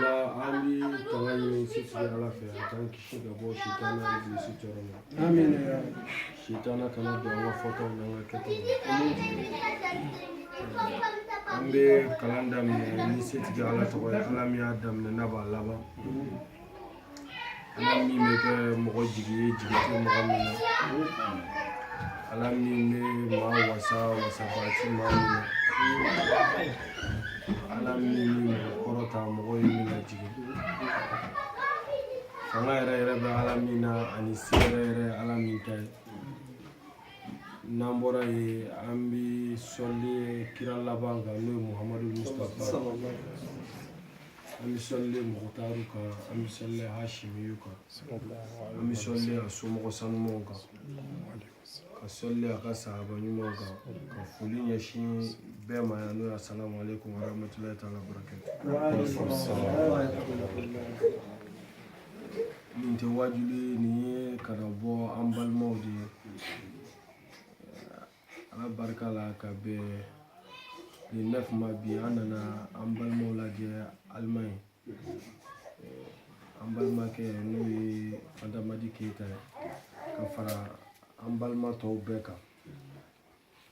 la an bi kana ɲini setigi ala fɛ a k'an kisi ka bɔ sitana ibilisi tɔɔrɔ ma amiina sitana kana don an ka fɔtaw n'an ka kɛtaw an bɛ kalan daminɛ ni setigi ala tɔgɔ ye ala min y'a daminɛ n'a b'a laban ala min bɛ kɛ mɔgɔ jigi ye jigi tɛ mɔgɔ min na ala min bɛ maa wasa wasabaa ti maa min na ala min bɛ mɔgɔ kɔrɔta mɔgɔw ye min lajigin fanga yɛrɛ yɛrɛ bɛ ala min na ani se yɛrɛ yɛrɛ ala min ta ye n'an bɔra yen an bɛ sɔli kira laban kan n'o ye muhamadu mustapha an bɛ sɔli muhutaru kan an bɛ sɔli hashimiyu kan an bɛ sɔli a somɔgɔ sanumanw kan ka sɔli a ka sahaba ɲumanw kan ka foli ɲɛsin bɛɛ ma yan n'o ye asalamu aleykum wa rahmatulahi taala barakatu nin tɛ wajuli nin ye ka na bɔ an balimaw de ye ala barika la ka bɛn le 9 ma bi an nana an balimaw lajɛ alimaɲi an balimakɛ n'o ye adamadi keyita ye ka fara an balima tɔw bɛɛ kan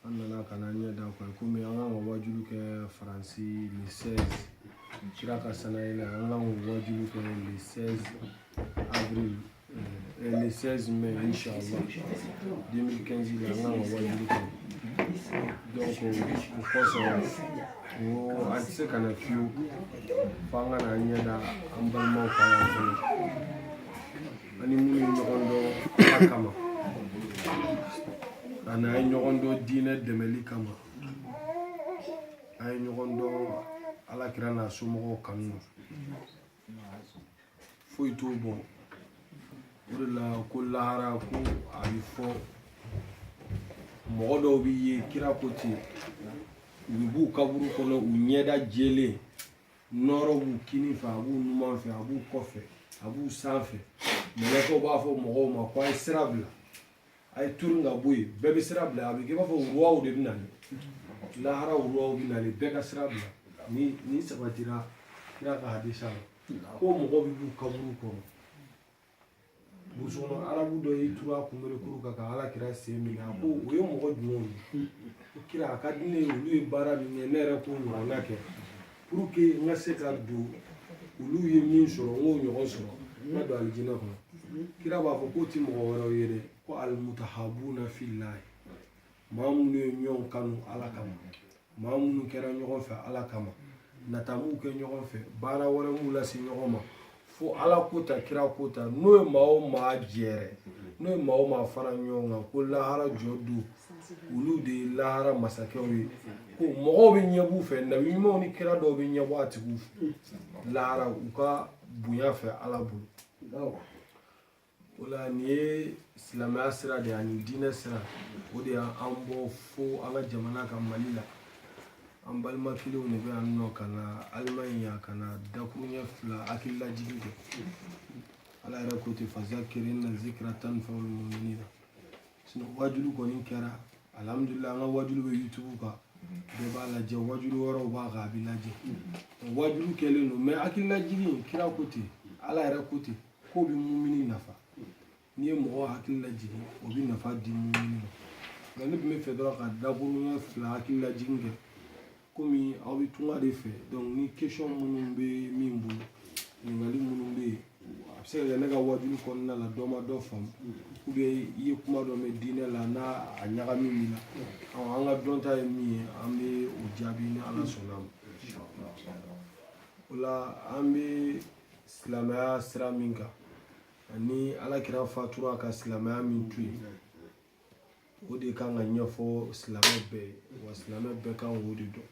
an nana ka na ɲɛ da kɔni komi an kan ka wajuli kɛ faransi le 16 kira ka sanayi la an kan ka wajuli kɛ le 16 avril Euh, le 16 mai, Inch'Allah, 2015, il a un Donc, je pense que nous avons qu'on a fait, pendant la nuit, un bon moment, on a eu une ronde a n'an ye ɲɔgɔn dɔn diinɛ dɛmɛli kama an ye ɲɔgɔn dɔn ala kira n'a somɔgɔw kanu na foyi t'o bɔ o de la ko lahara ko a bɛ fɔ mɔgɔ dɔw bɛ yen kira ko ten u bɛ b'u kaburu kɔnɔ u ɲɛda jɛlen nɔrɔ b'u kini fɛ a b'u numan fɛ a b'u kɔfɛ a b'u sanfɛ mɛlɛkɛw b'a fɔ mɔgɔw ma ko a ye sira bila a ye turun ka bɔ yen bɛɛ bɛ sira bila a bɛ kɛ i b'a fɔ ruwaw de bɛ nali lahara ruwaw bɛ nali bɛɛ ka sira bila nin sabatira kira ka hadisa la ko mɔgɔw bɛ b'u kaburu kɔnɔ burusi kɔnɔ arabu dɔ y'i turu a kunberekuru kan ka ala kira sen minɛ a ko o ye mɔgɔ jumɛnw ye ko kira a ka di ne ye olu ye baara min kɛ ne yɛrɛ k'o ɲɔgɔnna kɛ pour que n ka se ka don olu ye min sɔrɔ n k'o ɲɔgɔn sɔrɔ n ka don alijinɛ kɔnɔ kira b'a fɔ k'o ti mɔgɔ wɛrɛw ye dɛ ko alimutahabuna filayi maa minnu ye ɲɔgɔn kanu ala kama maa minnu kɛra ɲɔgɔn fɛ ala kama nata m'u kɛ ɲɔgɔn fɛ baara wɛrɛ m'u lase ɲɔgɔn ma fo ala ko ta kira ko ta n'o ye maa o maa jɛrɛ n'o ye maa o maa fara ɲɔgɔn kan ko lahara jɔ don olu de ye lahara masakɛw ye ko mɔgɔw bɛ ɲɛb'u fɛ nabi ɲumanw ni kira dɔw bɛ ɲɛbɔ a tigiw fɛ lahara u ka bonya fɛ ala bolo o la nin ye silamɛya sira de ye ani diinɛ sira o de y'an bɔ fo an ka jamana kan mali la an balima kelenw de bɛ yan nɔ ka na alimaɲi yan ka na dakuruɲɛ fila hakililajigi kɛ ala yɛrɛ ko ten fazakiri ina zikira tanfawu muminina sinon wajulu kɔni kɛra alhamdulilayi an ka wajulu bɛ yutubu kan bɛɛ b'a lajɛ wajulu wɛrɛw b'a kan a bɛ lajɛ wajulu kɛlen don mais hakililajigi kira ko ten ala yɛrɛ ko ten k'o bɛ mumini nafa n'i ye mɔgɔ hakili lajigin o bɛ nafa di mumini ma nka ne tun b'a fɛ dɔrɔn ka dakuruɲɛ fila hakili lajigin kɛ komi aw bɛ tunga de fɛ donc ni question minnu bɛ min bolo ɲininkali minnu bɛ yen a bɛ se ka kɛ ne ka wajulu kɔnɔna la dɔ ma dɔ faamu i ye kuma dɔ mɛn diinɛ la n'a a ɲagami min na an ka dɔnta ye min ye an bɛ o jaabi ni ala sɔnna ma o la an bɛ silamɛya sira min kan ani alakira fatura ka silamɛya min to yen o de kan ka ɲɛfɔ silamɛ bɛɛ ye wa silamɛ bɛɛ kan k'o de dɔn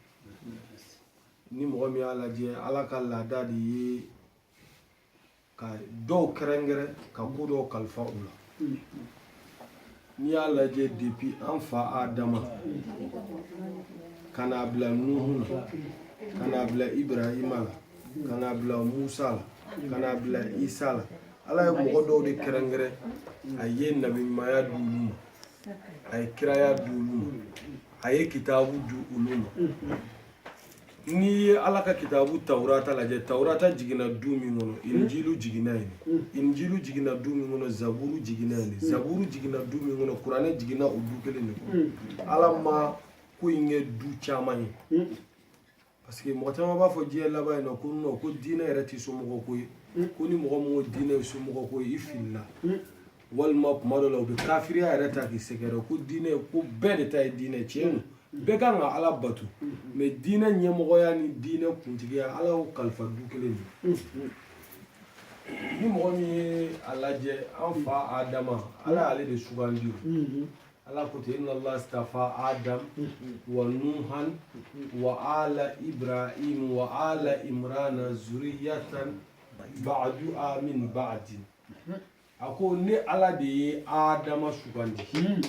ni mɔgɔ min y'a lajɛ ala ka laada de ye ka dɔw kɛrɛnkɛrɛn ka ko dɔw kalifa u la n'i y'a lajɛ depuis an fa adama ka n'a bila nuhu la ka n'a bila ibrahima la ka n'a bila musa la ka n'a bila isa la ala ye mɔgɔ dɔw de kɛrɛnkɛrɛn a ye nabiɲumanya di olu ma a ye kiraya di olu ma a ye kitabu di olu ma n'i ye ala ka kitabu taurata lajɛ taurata jiginna du min kɔnɔ hmm. injilu jiginna yen hmm. injilu jiginna du min kɔnɔ zaburu jiginna yen hmm. zaburu jiginna du min kɔnɔ kuranɛ jiginna o du kelen de kɔnɔ ala ma ko in kɛ du caman ye parce que mɔgɔ caman b'a fɔ diɲɛ laban in na ko non ko diinɛ yɛrɛ tɛ somɔgɔ ko ye ko ni mɔgɔ min ko diinɛ ye somɔgɔ ko ye i filila walima kuma dɔ la u bɛ kafiriya yɛrɛ ta k'i sɛgɛrɛ ko diinɛ ko bɛɛ de ta ye diinɛ tiɲɛ don bɛɛ kan ka ala bato mais diinɛ ɲɛmɔgɔya ni diinɛ kuntigiya ala y'o kalifa du kelen de ni mɔgɔ min ye a lajɛ an fa adama ala y'ale de sugandi o ala ko ten inna allah stafa adam wa nuhan wa ala ibrahim wa ala imrana zuriyatan ba'duha min ba'din a ko ne ala de ye adama sugandi hmm.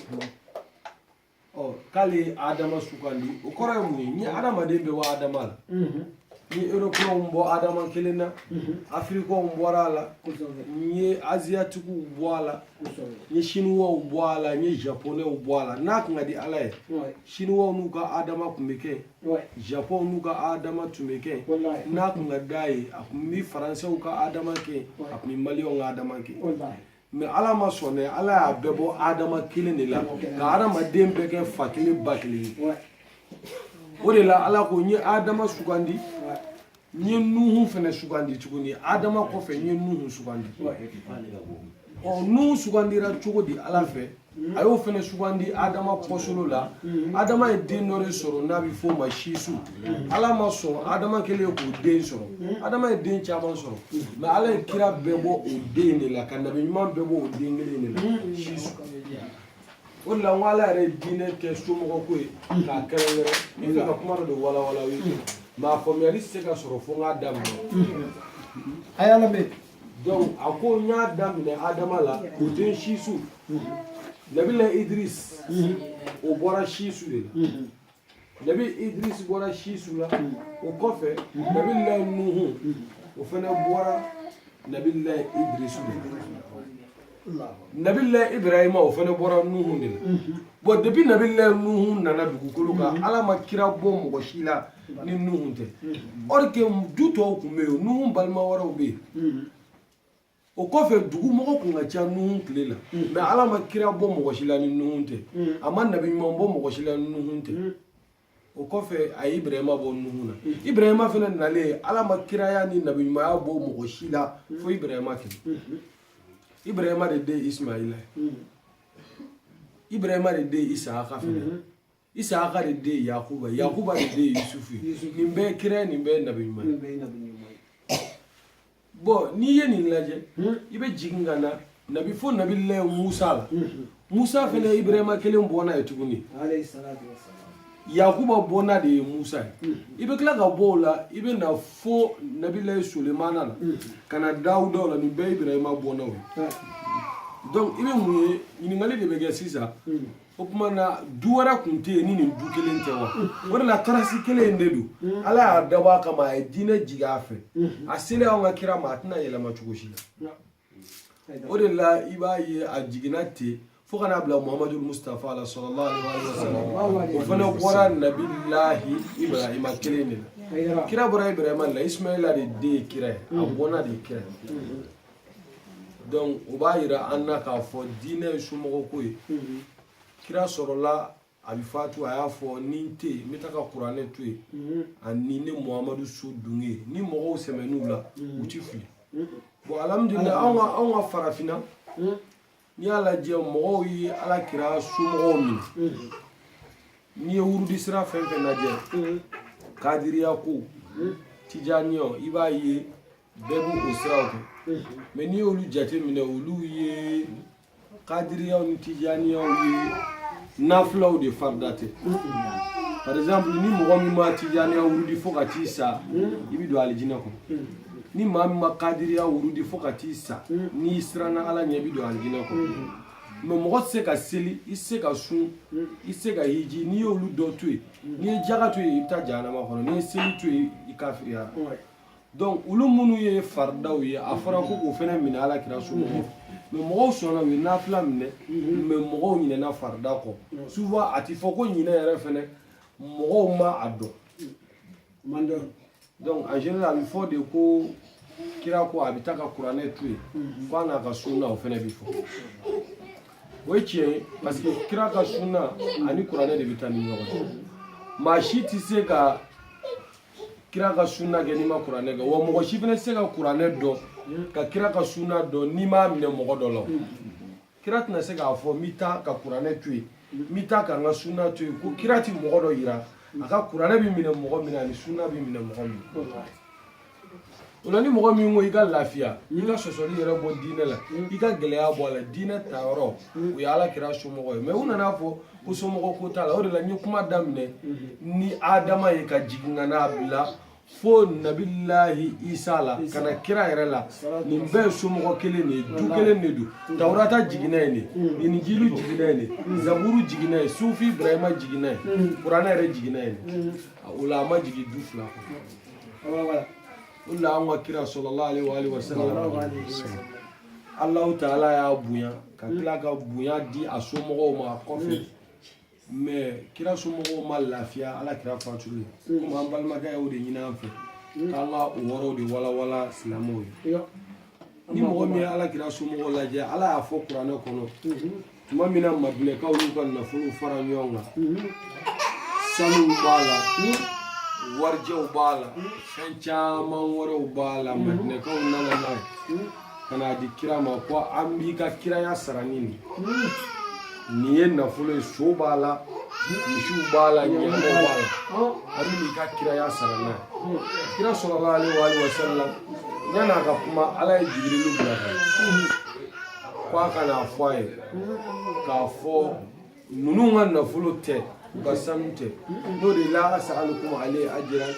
ɔ k'ale ye adama sugandi o kɔrɔ ye mun ye n ye adamaden bɛɛ bɔ adama la hmm. n ye eropɛnw bɔ adama kelen na hmm. afirikɛnw bɔra a la n ye aziyatikiw bɔ a la n ye siniwaw bɔ a la n ye japonɛw bɔ a la n'a kun ka di ala ye siniwaw n'u ka adama tun bɛ kɛ japon n'u ka adama tun bɛ kɛ n'a kun ka d'a ye a kun bɛ faransɛw ka adama kɛ a kun bɛ maliyɛnw ka adama kɛ mais ala ma sɔn dɛ ala y'a bɛɛ bɔ adama kelen de la ka adamaden bɛɛ kɛ fa kelen ba kelen ye o de la ala ko n ye adama sugandi n ye nuhu fana sugandi tuguni adama kɔfɛ n ye nuhu sugandi ɔ nuhu sugandira cogo di ala fɛ a y'o fana sugandi adama kɔsolo la adama ye den dɔ de sɔrɔ n'a bɛ f'o ma sisu ala ma sɔn adama kɛlen k'o den sɔrɔ adama ye den caman sɔrɔ mais ala ye kira bɛɛ bɔ o den de la ka nabi ɲuman bɛɛ bɔ o den kelen de la sisu o de la n ko ala yɛrɛ ye diinɛ kɛ somɔgɔ ko ye k'a kɛrɛnkɛrɛn n bɛ fɛ ka kuma dɔ de walawala aw ye mais a faamuyali tɛ se ka sɔrɔ fo n k'a daminɛ a y'a lamɛn donc a ko n y'a daminɛ adama la o den sisu nabila idris o bɔra sisu de la Nabi Idris bɔra Sisu la o kɔfɛ Nabi Lahi Nuhu o fana bɔra Nabi Lahi Idris de la Nabi Lahi Ibrahima o fana bɔra Nuhu de la bon depuis Nabi Lahi Nuhu nana dugukolo kan Ala ma kira bɔ mɔgɔ si la ni Nuhu tɛ or que du tɔw tun bɛ yen Nuhu balima wɛrɛw bɛ yen o kɔfɛ dugumɔgɔ kun ka ca nuhun tile la mais ala ma kira bɔ mɔgɔ si la ni nuhun tɛ a ma nabi ɲuman bɔ mɔgɔ si la ni nuhun tɛ o kɔfɛ a ye ibrahima bɔ nuhun na ibrahima fana nalen ala ma kiraya ni nabi ɲumanya bɔ mɔgɔ si la fo ibrahima kelen ibrahima de den ismaila ye ibrahima de den isaaka fana Isaka de den Yakuba Yakuba de den Yusufu nin bɛɛ ye kira ye nin bɛɛ ye nabi ɲuman ye bon n'i ye nin lajɛ hmm? i bɛ jigin ka na nabi fo nabila Musa la hmm. Musa fana ye Ibrahima kelen bɔnna ye tuguni Yakuba bɔnna de ye Musa ye hmm. i bɛ tila ka bɔ o la i bɛ na fo nabila Sulemana la ka na Dawuda la nin bɛɛ ye Ibrahima bɔnnaw ye donc i bɛ mun ye ɲininkali de bɛ kɛ sisan. o tuma na du wɛrɛ tun tɛ yen ni nin du kelen tɛ wa o de la tarasi kelen in de don ala y'a dabɔ a kama a ye diinɛ jigin a fɛ a selen anw ka kira ma a tɛna yɛlɛma cogo si la o de la i b'a ye a jiginna ten fo ka n'a bila muhamadu mustafa la sɔrɔla o fana bɔra nabilahi ibrahima kelen de la kira bɔra ibrahima la ismaila de den ye kira ye a bɔnna de ye kira ye donc o b'a yira an na k'a fɔ diinɛ ye somɔgɔ ko ye kira sɔrɔla a bɛ fatu a y'a fɔ ni n tɛ yen n bɛ taa ka kuranɛ to yen ani ne muhamadu so dun ye ni mɔgɔw sɛmɛn'u la u ti fili bon alihamudulila anw ka anw ka farafinna n'i y'a lajɛ mɔgɔw ye ala kira somɔgɔw minɛ n'i ye wurudi sira fɛn fɛn lajɛ kadiriya ko tijaniya i b'a ye bɛɛ b'u o siraw kɛ mais n'i y'olu jateminɛ olu ye kadiriyaw ni tijaniyaw ye nafilaw de farida tɛ par exemple ni mɔgɔ min ma tijaniya wurudi fo ka t'i sa i bɛ don alijinɛ kɔnɔ ni maa min ma kadiriya wurudi fo ka t'i sa mm. n'i siranna ala ɲɛ i bɛ don alijinɛ kɔnɔ mm. mais mɔgɔ tɛ se ka seli i tɛ se ka sun mm. i tɛ se ka hiji n'i y'olu dɔ to yen n'i ye jaga to yen i bɛ taa jahanama kɔnɔ n'i ye seli to yen i kafiriyara donc olu minnu ye faridaw ye a fɔra ko k'o fana minɛ ala kira somɔgɔw mais mɔgɔw sɔnna u ye nafila minɛ mais mɔgɔw ɲinɛna farida kɔ souvent a tɛ fɔ ko ɲinɛ yɛrɛ fana mɔgɔw ma a dɔn donc en général a bɛ fɔ de ko kira ko a bɛ taa ka kuranɛ to yen ko a n'a ka sunna o fana bɛ fɔ o ye tiɲɛ ye parce que kira ka sunna ani kuranɛ de bɛ taa ni ɲɔgɔn cɛ maa si tɛ se ka kira ka sunna kɛ n'i ma kuranɛ kɛ wa mɔgɔ si fana tɛ se ka kuranɛ dɔn ka kira ka sunna dɔn n'i m'a minɛ mɔgɔ dɔ la kira tɛna se k'a fɔ n bɛ taa ka kuranɛ to yen n bɛ taa ka n ka sunna to yen ko kira tɛ mɔgɔ dɔ yira a ka kuranɛ bɛ minɛ mɔgɔ min na ani sunna bɛ minɛ mɔgɔ min na o la ni mɔgɔ min ko i ka lafiya i ka sɔsɔli yɛrɛ bɔ diinɛ la i ka gɛlɛya bɔ a la diinɛ tayɔrɔ o ye ala kira somɔgɔ ye mais u nan'a fɔ ko somɔgɔ ko t'a la o de la n ye kuma daminɛ ni adama ye ka jigin ka n'a bila fo nabilahi isa la ka na kira yɛrɛ la nin bɛɛ ye somɔgɔ kelen de ye du kelen de don tawurata jiginna yen ne injili jiginna yen ne zaburu jiginna yen suhufi ibrahima jiginna yen kuranɛ yɛrɛ jiginna yen ne o la a ma jigin du fila kɔnɔ o la an ka kira sallallahu alayhi wa alihi wa sallam alahu taala y'a bonya ka tila ka bonya di a somɔgɔw ma a kɔfɛ mais kira somɔgɔw ma lafiya ala kira fatuli mm. komi an balimakɛ y'o de ɲini an fɛ mm. k'an ka o yɔrɔw de walawala silamɛw ye ni mɔgɔ min ye ala kira somɔgɔw lajɛ ala y'a fɔ kuranɛ kɔnɔ mm-hmm. tuma min na madinɛkaw y'u ka nafolow fara ɲɔgɔn kan mm-hmm. sanuw b'a la mm. warijɛw b'a la fɛn caman wɛrɛw b'a la madinɛkaw nana n'a ye ka n'a di kira ma ko an b'i ka kiraya sara ni nin nin ye nafolo ye so b'a la misiw b'a la ɲɔgɔmɛ b'a la an bɛn'i ka kiraya sara n'a ye kira sallallahu alayhi wa alihi wa sallam yan'a ka kuma ala ye jibirilu bila ka ye ko a ka n'a fɔ a ye k'a fɔ ninnu ka nafolo tɛ u ka sanu tɛ n'o de la as'alukum alayhi ajran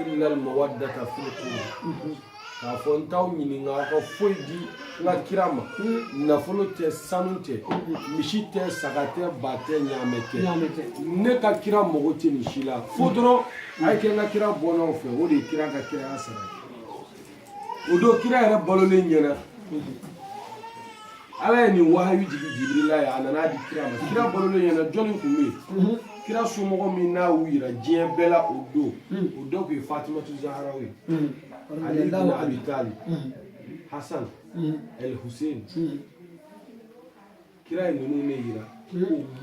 illal mawaddata fil qurba k'a fɔ n t'aw ɲininka aw ka foyi di n ka kira ma nafolo tɛ sanu tɛ misi tɛ saga tɛ ba tɛ ɲaamɛ tɛ Ɲaamɛ tɛ. ne ka kira mago tɛ nin si la fo dɔrɔn a ye kɛ n ka kira bɔnnaw fɛ o de ye kira ka kiraya sara ye o don kira yɛrɛ balolen ɲɛna ala ye nin wahayu jigi jibirila ye a nana di kira ma kira balolen ɲɛna jɔnni tun bɛ yen kira somɔgɔ min n'a y'u yira diɲɛ bɛɛ la o don o dɔ tun ye fatimatu zahara ye ali ibn abi talib hasan el hussein kira ye ninnu ne yira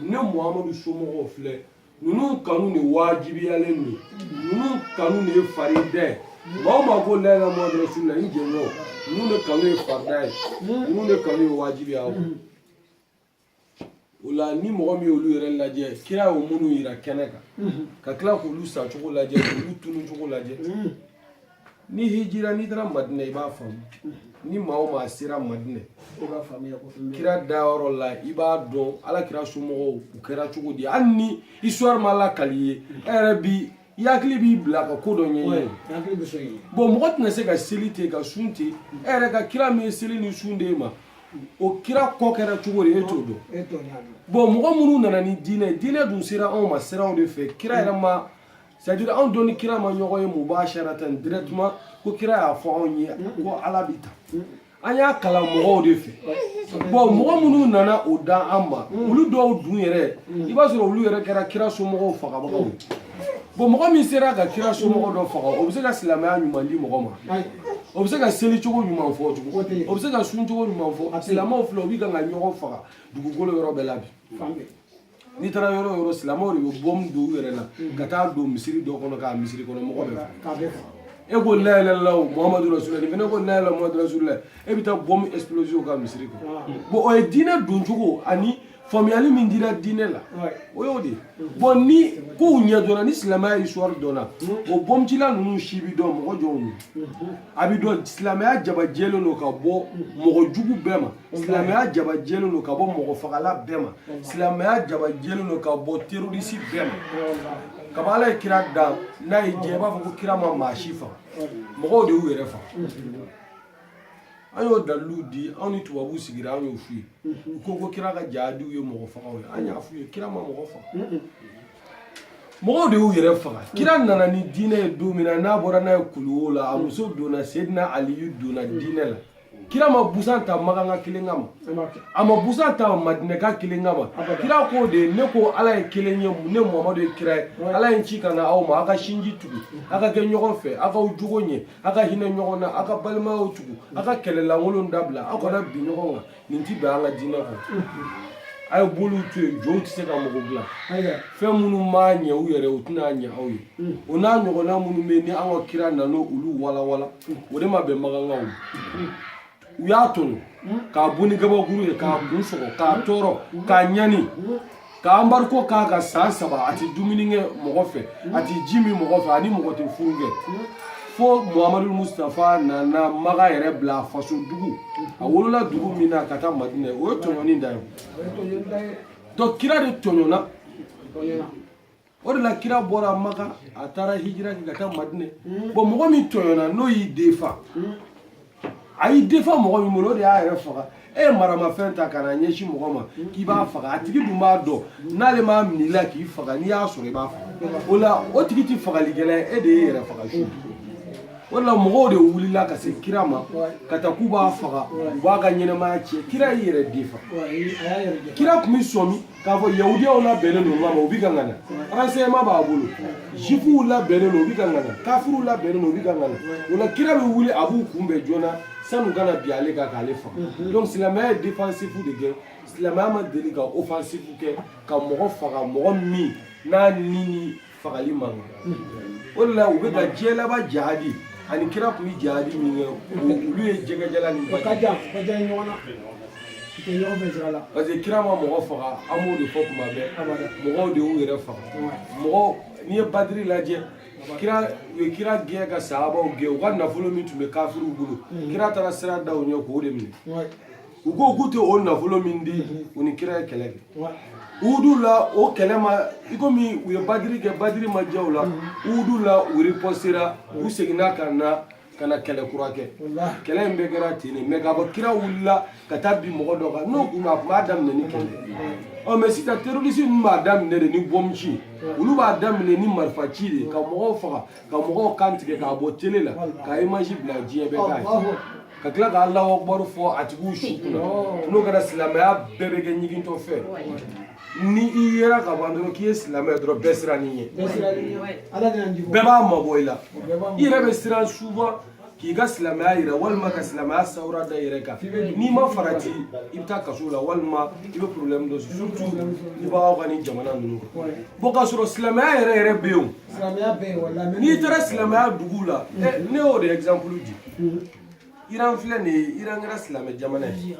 ne muhamadu somɔgɔw filɛ ninnu kanu de wajibiyalen don ninnu kanu de ye farida ye maa o maa ko la ilaha muhamadu rasulullah n jɛɲɔ ninnu de kanu ye farida ye ninnu de kanu ye wajibiya ye o la ni mɔgɔ min y'olu yɛrɛ lajɛ kira y'o minnu yira kɛnɛ kan ka tila k'olu sacogo lajɛ k'olu tunucogo lajɛ ni hijira n'i taara madina i b'a faamu ni maa o maa sera madina kira dayɔrɔ la i b'a dɔn ala kira somɔgɔw u kɛra cogo di hali ni histoire ma lakal'i ye e yɛrɛ bi i hakili b'i bila ka ko dɔ ɲɛɲini bon mɔgɔ tɛna se ka seli ten ka sun ten e yɛrɛ ka kira min ye seli ni sun d'e ma o kira kɔ kɛra cogo di e t'o dɔn bon mɔgɔ minnu nana ni diinɛ diinɛ dun sera anw ma siraw de fɛ kira yɛrɛ ma c'est à dire anw dun ni kira ma ɲɔgɔn ye mubasharatan directement ko kira y'a fɔ anw ye ko ala bɛ tan an y'a kalan mɔgɔw de fɛ bon mɔgɔ minnu nana o d'an ma olu dɔw dun yɛrɛ i b'a sɔrɔ olu yɛrɛ kɛra kira somɔgɔw fagabagaw ye bon mɔgɔ min sera ka kira somɔgɔ dɔ faga o bɛ se ka silamɛya ɲuman di mɔgɔ ma o bɛ se ka seli cogo ɲuman fɔ cogo o bɛ se ka sun cogo ɲuman fɔ silamɛw filɛ u bɛ kan ka ɲɔgɔn faga dugukolo yɔrɔ bɛɛ la bi n'i taara yɔrɔ o yɔrɔ silamɛw de bɛ bɔmu don u yɛrɛ la ka taa don misiri dɔ kɔnɔ k'a misiri kɔnɔ mɔgɔ bɛɛ faga e ko la ilaha illallah muhamadu rasulullah nin fana ko la ilaha muhamadu rasulullah e bɛ taa bɔmu exploser u ka misiri kɔnɔ bon o ye diinɛ dɔncogo ani faamuyali min dira diinɛ la o y'o de ye bon ni kow ɲɛ dɔnna ni silamɛya histoire dɔnna o bɔmucila ninnu si bi dɔn mɔgɔ jɔnw ye a bi dɔn silamɛya jabajɛlen don ka bɔ mɔgɔ jugu bɛɛ ma silamɛya jaba jɛlen don ka bɔ mɔgɔ fagala bɛɛ ma silamɛya jaba jɛlen don ka bɔ terorisi bɛɛ ma kaba ala ye kira dan n'a ye diɲɛ i b'a fɔ ko kira ma maa si faga mɔgɔw de y'u yɛrɛ faga an y'o dalilu di anw ni tubabuw sigira an y'o f'u ye u ko ko kira ka jaadiw ye mɔgɔ fagaw ye an y'a f'u ye kira ma mɔgɔ faga mɔgɔw de y'u yɛrɛ faga kira nana ni diinɛ ye don min na n'a bɔra n'a ye kuluwo la a muso donna sedina aliyu donna diinɛ la kira ma busan ta maganka kelen kama a ma busan ta madinɛka kelen kama kira ko de ne ko ala ye kelen ye ne muhamadu ye kira ye ala ye n ci ka na aw ma aw ka sinji tugu aw ka kɛ ɲɔgɔn fɛ aw k'aw jogo ɲɛ aw ka hinɛ ɲɔgɔn na aw ka balimayaw tugu aw ka kɛlɛlankolon dabila aw kana bin ɲɔgɔn kan nin ti bɛn an ka diinɛ kɔnɔ a ye boliw to yen jow tɛ se ka mɔgɔ dilan fɛn minnu ma ɲɛ u yɛrɛ u tɛna ɲɛ aw ye o n'a ɲɔgɔnna minnu bɛ yen ni an ka kira nana olu walawala o de ma bɛn magankaw u y'a tɔɲɔ k'a bon ni gabakuru ye k'a kun sɔgɔ k'a tɔɔrɔ k'a ɲani k'a anbariko k'a ka san saba a ti dumuni kɛ mɔgɔ fɛ a ti ji min mɔgɔ fɛ ani mɔgɔ tɛ furu kɛ fo muhamadu mustafa nana maga yɛrɛ bila a faso dugu a wolola dugu min na ka taa madinɛ o ye tɔɲɔni dan ye donc kira de tɔɲɔna o de la kira bɔra maka a taara hijira kɛ ka taa madinɛ hmm. bon mɔgɔ min tɔɲɔna n'o y'i defa hmm. a y'i defa mɔgɔ min bolo o de y'a yɛrɛ faga e ye maramafɛn ta ka na ɲɛsin mɔgɔ ma hmm. k'i b'a faga a tigi dun b'a dɔn n'ale m'a minɛ i la k'i faga n'i y'a sɔrɔ i b'a faga o la o tigi tɛ fagalikɛla ye e de ye yɛrɛ faga su o de la mɔgɔw de wulila ka se kira ma ka taa k'u b'a faga u b'a ka ɲɛnɛmaya tiɲɛ kira y'i yɛrɛ defa kira tun bɛ sɔmi k'a fɔ yahudiyaw labɛnnen don ɲɔgɔn ma u bɛ kan ka na renseignement b'a bolo jifuw labɛnnen don u bɛ kan ka na kafiriw labɛnnen don u bɛ kan ka na o la kira bɛ wuli a b'u kunbɛn joona sani u ka na bin ale kan k'ale faga mhm. donc silamɛya ye defansifu de kɛ silamɛya ma deli ka ofansifu kɛ ka mɔgɔ faga mɔgɔ min n'a ni ni fagali man kan o de la u bɛ ka diɲɛ laban jihadi ani kira tun bɛ jihadi min kɛ olu ye jɛgɛjala ni baji ka jan ɲɔgɔn na parce que kira ma mɔgɔ faga an b'o de fɔ tuma bɛɛ mɔgɔw de y'u yɛrɛ faga mɔgɔw n'i ye badiri lajɛ kira u ye kira gɛn ka sahabaw gɛn u ka nafolo min tun bɛ kafiriw bolo kira taara sira da u ɲɛ k'o de minɛ u ko k'u tɛ o nafolo min di u ni kira ye kɛlɛ kɛ uhudu la o kɛlɛ ma i komi u ye badiri kɛ badiri ma diya u la uhudu la u ripɔsitera u seginna ka na ka na kɛlɛ kura kɛ kɛlɛ in bɛɛ kɛra ten de mɛ k'a fɔ kira wulila ka taa bin mɔgɔ dɔ kan n'o kun don a tun b'a daminɛ ni kɛlɛ ɔ mɛ sisan terorisi ninnu b'a daminɛ de ni bɔmuci olu b'a daminɛ ni marifaci de ka mɔgɔw faga ka mɔgɔw kan tigɛ k'a bɔ tele la ka imaji bila diɲɛ bɛɛ k'a ye ka tila ka Alahu akibaru fɔ a tigiw su kunna n'o kɛra silamɛya bɛɛ bɛ kɛ ɲigintɔ fɛn ni i yera ka ban dɔrɔn k'i ye silamɛ dɔrɔn bɛɛ siran i ɲɛ bɛɛ b'a mabɔ i la i yɛrɛ bɛ siran souvent k'i ka silamɛya yira walima ka silamɛya sawura da yɛrɛ kan n'i ma farati i bɛ taa kaso la walima i bɛ problème dɔ sɔrɔ surtout i b'aw ka nin jamana ninnu kan bon k'a sɔrɔ silamɛya yɛrɛ yɛrɛ bɛ yen o n'i taara silamɛya duguw la ne y'o de exemple di iran filɛ nin ye iran kɛra silamɛ jamana ye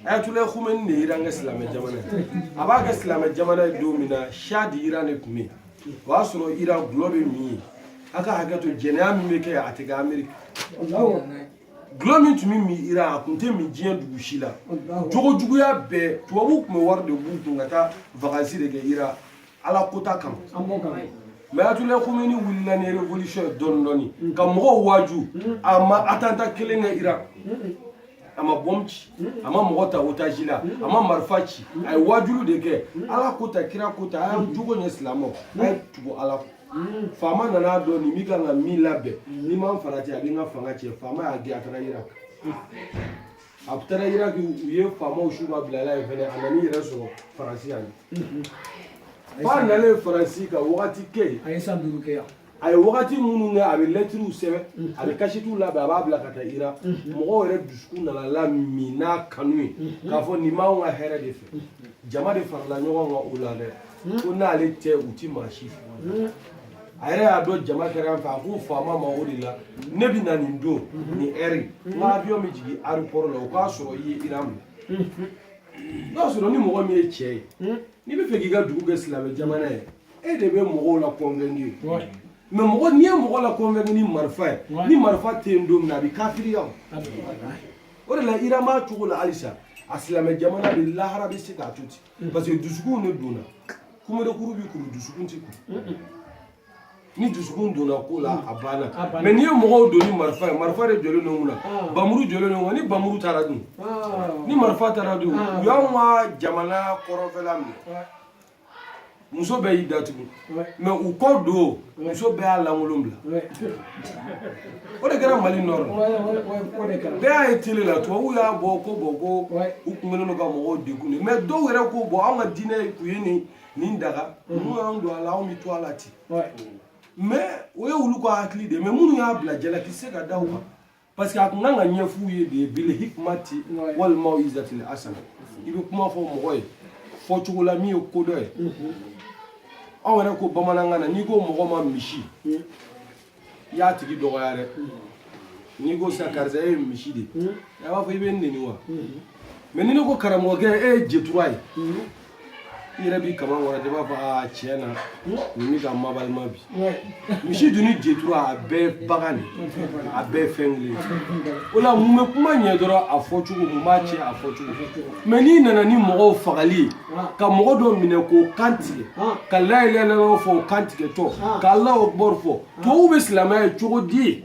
ayatollah khomeini de ye iran kɛ silamɛ jamana ye a b'a kɛ silamɛ jamana ye don min na shah d'iran de tun bɛ yen o y'a sɔrɔ iran gulɔ bɛ min yen a ka hakɛ to jɛnɛya min bɛ kɛ a tɛ kɛ ameriki gulɔ min tun bɛ min iran a tun tɛ min diɲɛ dugu si la jogo juguya bɛɛ tubabuw tun bɛ wari de b'u kun ka taa vakansi de kɛ iran ala kota kama mɛ ayatollah khomeini wulila ni révolution ye dɔɔni dɔɔni mm. ka mɔgɔw waaju mm. a ma atanta kelen kɛ iran a ma bɔm ci a ma mɔgɔ ta otaji la a ma marifa ci a ye waajulu de kɛ ala ko tan kira ko tan a ye jogo ɲɛ silamɛw a ye tugu ala kɔ faama nana dɔn nin min kan ka min labɛn n'i ma farati a bɛ n ka fanga cɛn faama y'a gɛn a taara iraki a taara iraki u ye faamaw su ka bil'a la yen fɛnɛ a nana i yɛrɛ sɔrɔ faransi yan f'a nalen faransi ka wagati kɛ yen a ye san duuru kɛ yan a ye wagati minnu kɛ a bɛ lɛtiriw sɛbɛn a bɛ kasitiw labɛn a b'a bila ka taa iran mɔgɔw yɛrɛ dusukun nana lamin n'a kanu ye k'a fɔ nin b'anw ka hɛrɛ de fɛ jama de farala ɲɔgɔn kan o la dɛ ko n'ale tɛ u ti maa si fɛ a yɛrɛ y'a dɔn jama kɛra n fɛ a ko faama ma o de la ne bɛ na nin don nin ɛri n ka avion bɛ jigin aéroport la o k'a sɔrɔ i ye iran minɛ i b'a sɔrɔ ni mɔgɔ min ye cɛ ye n'i b'a fɛ k'i ka dugu kɛ silamɛ jamana ye e de bɛ mɔgɔw la convaincre mɛ mɔgɔ n'i ye mɔgɔ la convaincre ni marifa ye ni marifa tɛ yen don min na a bɛ kafiriya o de la iran b'a cogo la halisa a silamɛ jamana de lahara bɛ se k'a to ten parce que dusukun de donna kumarekuru b'i kuru dusukun t'i kuru ni dusukun donna ko la a banna mais n'i ye mɔgɔw don ni marifa ye marifa de jɔlen don kunna bamuru jɔlen don ni bamuru taara dun ni marifa taara dun u y'anw ka jamana kɔrɔnfɛla minɛ muso bɛɛ y'i datugu mais u kɔ don muso bɛɛ y'a lankolon bila o de kɛra mali nord bɛɛ y'a ye tele la tubabuw y'a bɔ ko bon ko u kun kɛlen don ka mɔgɔw degun de mais dɔw yɛrɛ ko bon anw ka diinɛ kun ye nin nin daga n'u y'an don a la anw bɛ to a la ten mais o ye olu ka hakili de mais minnu y'a bila jalaki se ka da u kan parce que a kun kan ka ɲɛf'u ye de bil hikmati wal maw'izatil hasana i bɛ kuma fɔ mɔgɔ ye fɔcogo la min ye ko dɔ ye aw yɛrɛ ko bamanankan na n'i ko mɔgɔ ma misi i y'a tigi dɔgɔya dɛ n'i ko sisan karisa e ye misi de ye a b'a fɔ i bɛ n neni wa mais ni ne ko karamɔgɔkɛ e ye jetura ye i yɛrɛ b'i kama wɛrɛ i b'a fɔ aa tiɲɛ na nin bɛ ka mabalima bi misi dun ni jetura a bɛɛ bagan de a bɛɛ fɛn kelen o la mun bɛ kuma ɲɛ dɔrɔn a fɔcogo mun b'a tiɲɛ a fɔcogo mais n'i nana ni mɔgɔw fagali ye ka mɔgɔ dɔ minɛ k'o kan tigɛ ka la ilaha illallah fɔ o kan tigɛtɔ ka allahu akbar fɔ tubabuw bɛ silamɛya ye cogo di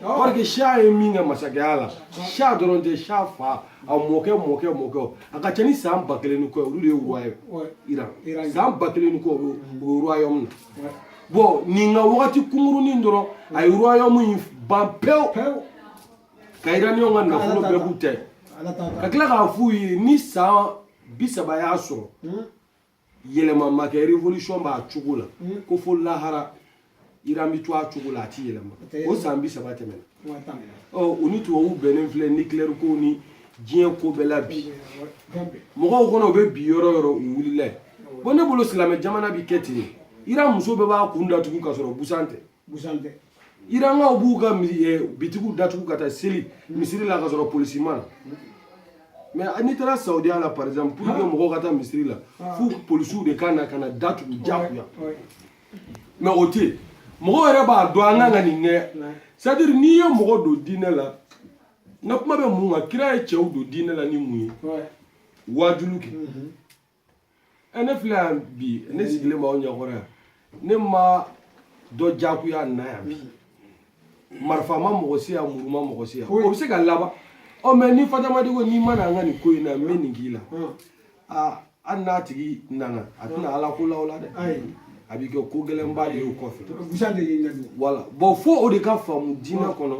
Parce que Shah ye min kɛ masakɛya la Shah dɔrɔn tɛ Shah fa a mɔkɛ mɔkɛ mɔkɛ a ka ca ni san ba kelen ni kɔ olu de ye roi ye Iran san ba kelen ni kɔ o ye royaume na bon nin ka wagati kunkurunin dɔrɔn a ye royaume in ban pewu ka iraniyanw ka nafolo bɛɛ b'u tɛ ka tila k'a f'u ye ni san bi saba y'a sɔrɔ yɛlɛma ma kɛ révolution b'a cogo la hmm. ko fo lahara iran bɛ to a cogo la a ti yɛlɛma o san bi saba tɛmɛna ɔ u ni tubabuw bɛnnen filɛ nucléaire ko ni diɲɛ ko bɛɛ la bi mɔgɔw kɔnɔ u bɛ bin yɔrɔ yɔrɔ u wulila yen bon ne bolo silamɛ jamana bi kɛ ten iran muso bɛɛ b'a kun datugu ka sɔrɔ busan tɛ busan tɛ irankaw b'u ka eh, bitigiw datugu ka taa seli misiri la ka sɔrɔ polisi ma na mais ah, n'i taara saudiya la par exemple pour que mɔgɔw ka taa misiri la fo polisiw de ka na ka na datugu jagoya mais o tɛ yen mɔgɔw yɛrɛ b'a dɔn an kan ka nin kɛ c'est à dire n'i ye mɔgɔ don diinɛ la n ka kuma bɛ mun kan kira ye cɛw don diinɛ la ni mun ye waajulu kɛ ɛ ne filɛ yan bi ne sigilen b'aw ɲɛkɔrɔ yan ne ma dɔ jagoya na yan bi marifa ma mɔgɔ si yan muru ma mɔgɔ si yan o bɛ se ka laban ɔ mais ni fatamadi ko n'i ma na an ka nin ko in na n bɛ nin k'i la aa hali n'a tigi nana a tɛ na ala ko la o la dɛ a bɛ kɛ ko gɛlɛnba de ye o kɔfɛ voilà bon fo o de ka faamu diinɛ kɔnɔ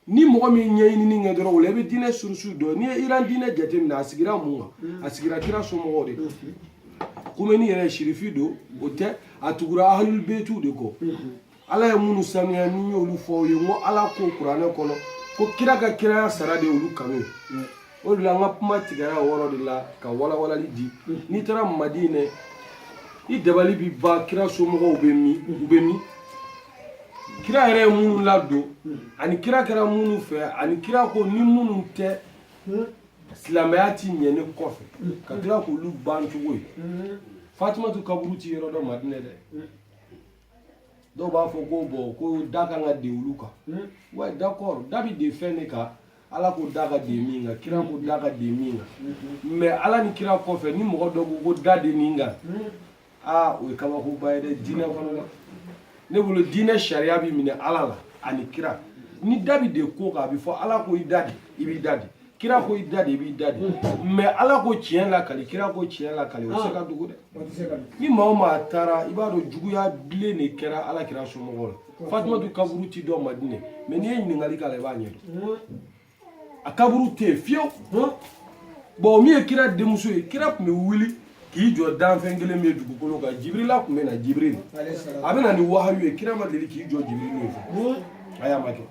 ni mɔgɔ min ye ɲinini kɛ dɔrɔn o la i bɛ diinɛ source dɔn n'i ye iran diinɛ jateminɛ a sigira mun kan mm. a sigira kira somɔgɔw de kan mm-hmm. kumeni yɛrɛ sirifi don o tɛ a tugura ahalulibetiw de kɔ mm-hmm. ala ye minnu sanuya ne y'olu fɔ aw ye n ko ala ko kuranɛ kɔnɔ ko kira ka kiraya sara de y'olu kanu ye mm. o de la an ka kuma tigɛra o yɔrɔ de la ka walawalali di mm. n'i taara madinɛ i dabali bi ban kira somɔgɔw bɛ min u bɛ min kira yɛrɛ ye minnu ladon ani kira kɛra minnu fɛ ani kira ko ni minnu tɛ silamɛya ti ɲɛ ne kɔfɛ ka tila k'olu ban cogo ye fatumatu kaburu ti yɔrɔ dɔ madinɛ dɛ dɔw b'a fɔ ko bon ko da kan ka de olu kan wa d'accord da bi de fɛn de kan ala ko da ka de min kan kira ko da ka de min kan mais ala ni kira kɔfɛ ni mɔgɔ dɔ ko ko da de nin kan aa o ye kabakoba ye dɛ diinɛ kɔnɔ dɛ ne bolo diinɛ sariya bɛ minɛ ala la ani kira ni da bɛ de ko kan a bɛ fɔ ala ko i da de i b'i da de kira ko i da de i b'i da de mais ala ko tiɲɛ lakali kira ko tiɲɛ lakali o tɛ se ka dogo dɛ ni maa o maa taara i b'a dɔn juguya bilen de kɛra ala kira somɔgɔw la fatumatu kaburu ti dɔn madinɛ mais n'i ye ɲininkali k'a la i b'a ɲɛdɔn a kaburu tɛ yen fiyewu bon min ye kira denmuso ye kira tun bɛ wuli k'i jɔ danfɛn kelen min ye dugukolo kan jibirila tun bɛ na jibiri a bɛ na ni wahayu ye kira ma deli k'i jɔ jibiri min fɛ a y'a ma kɛ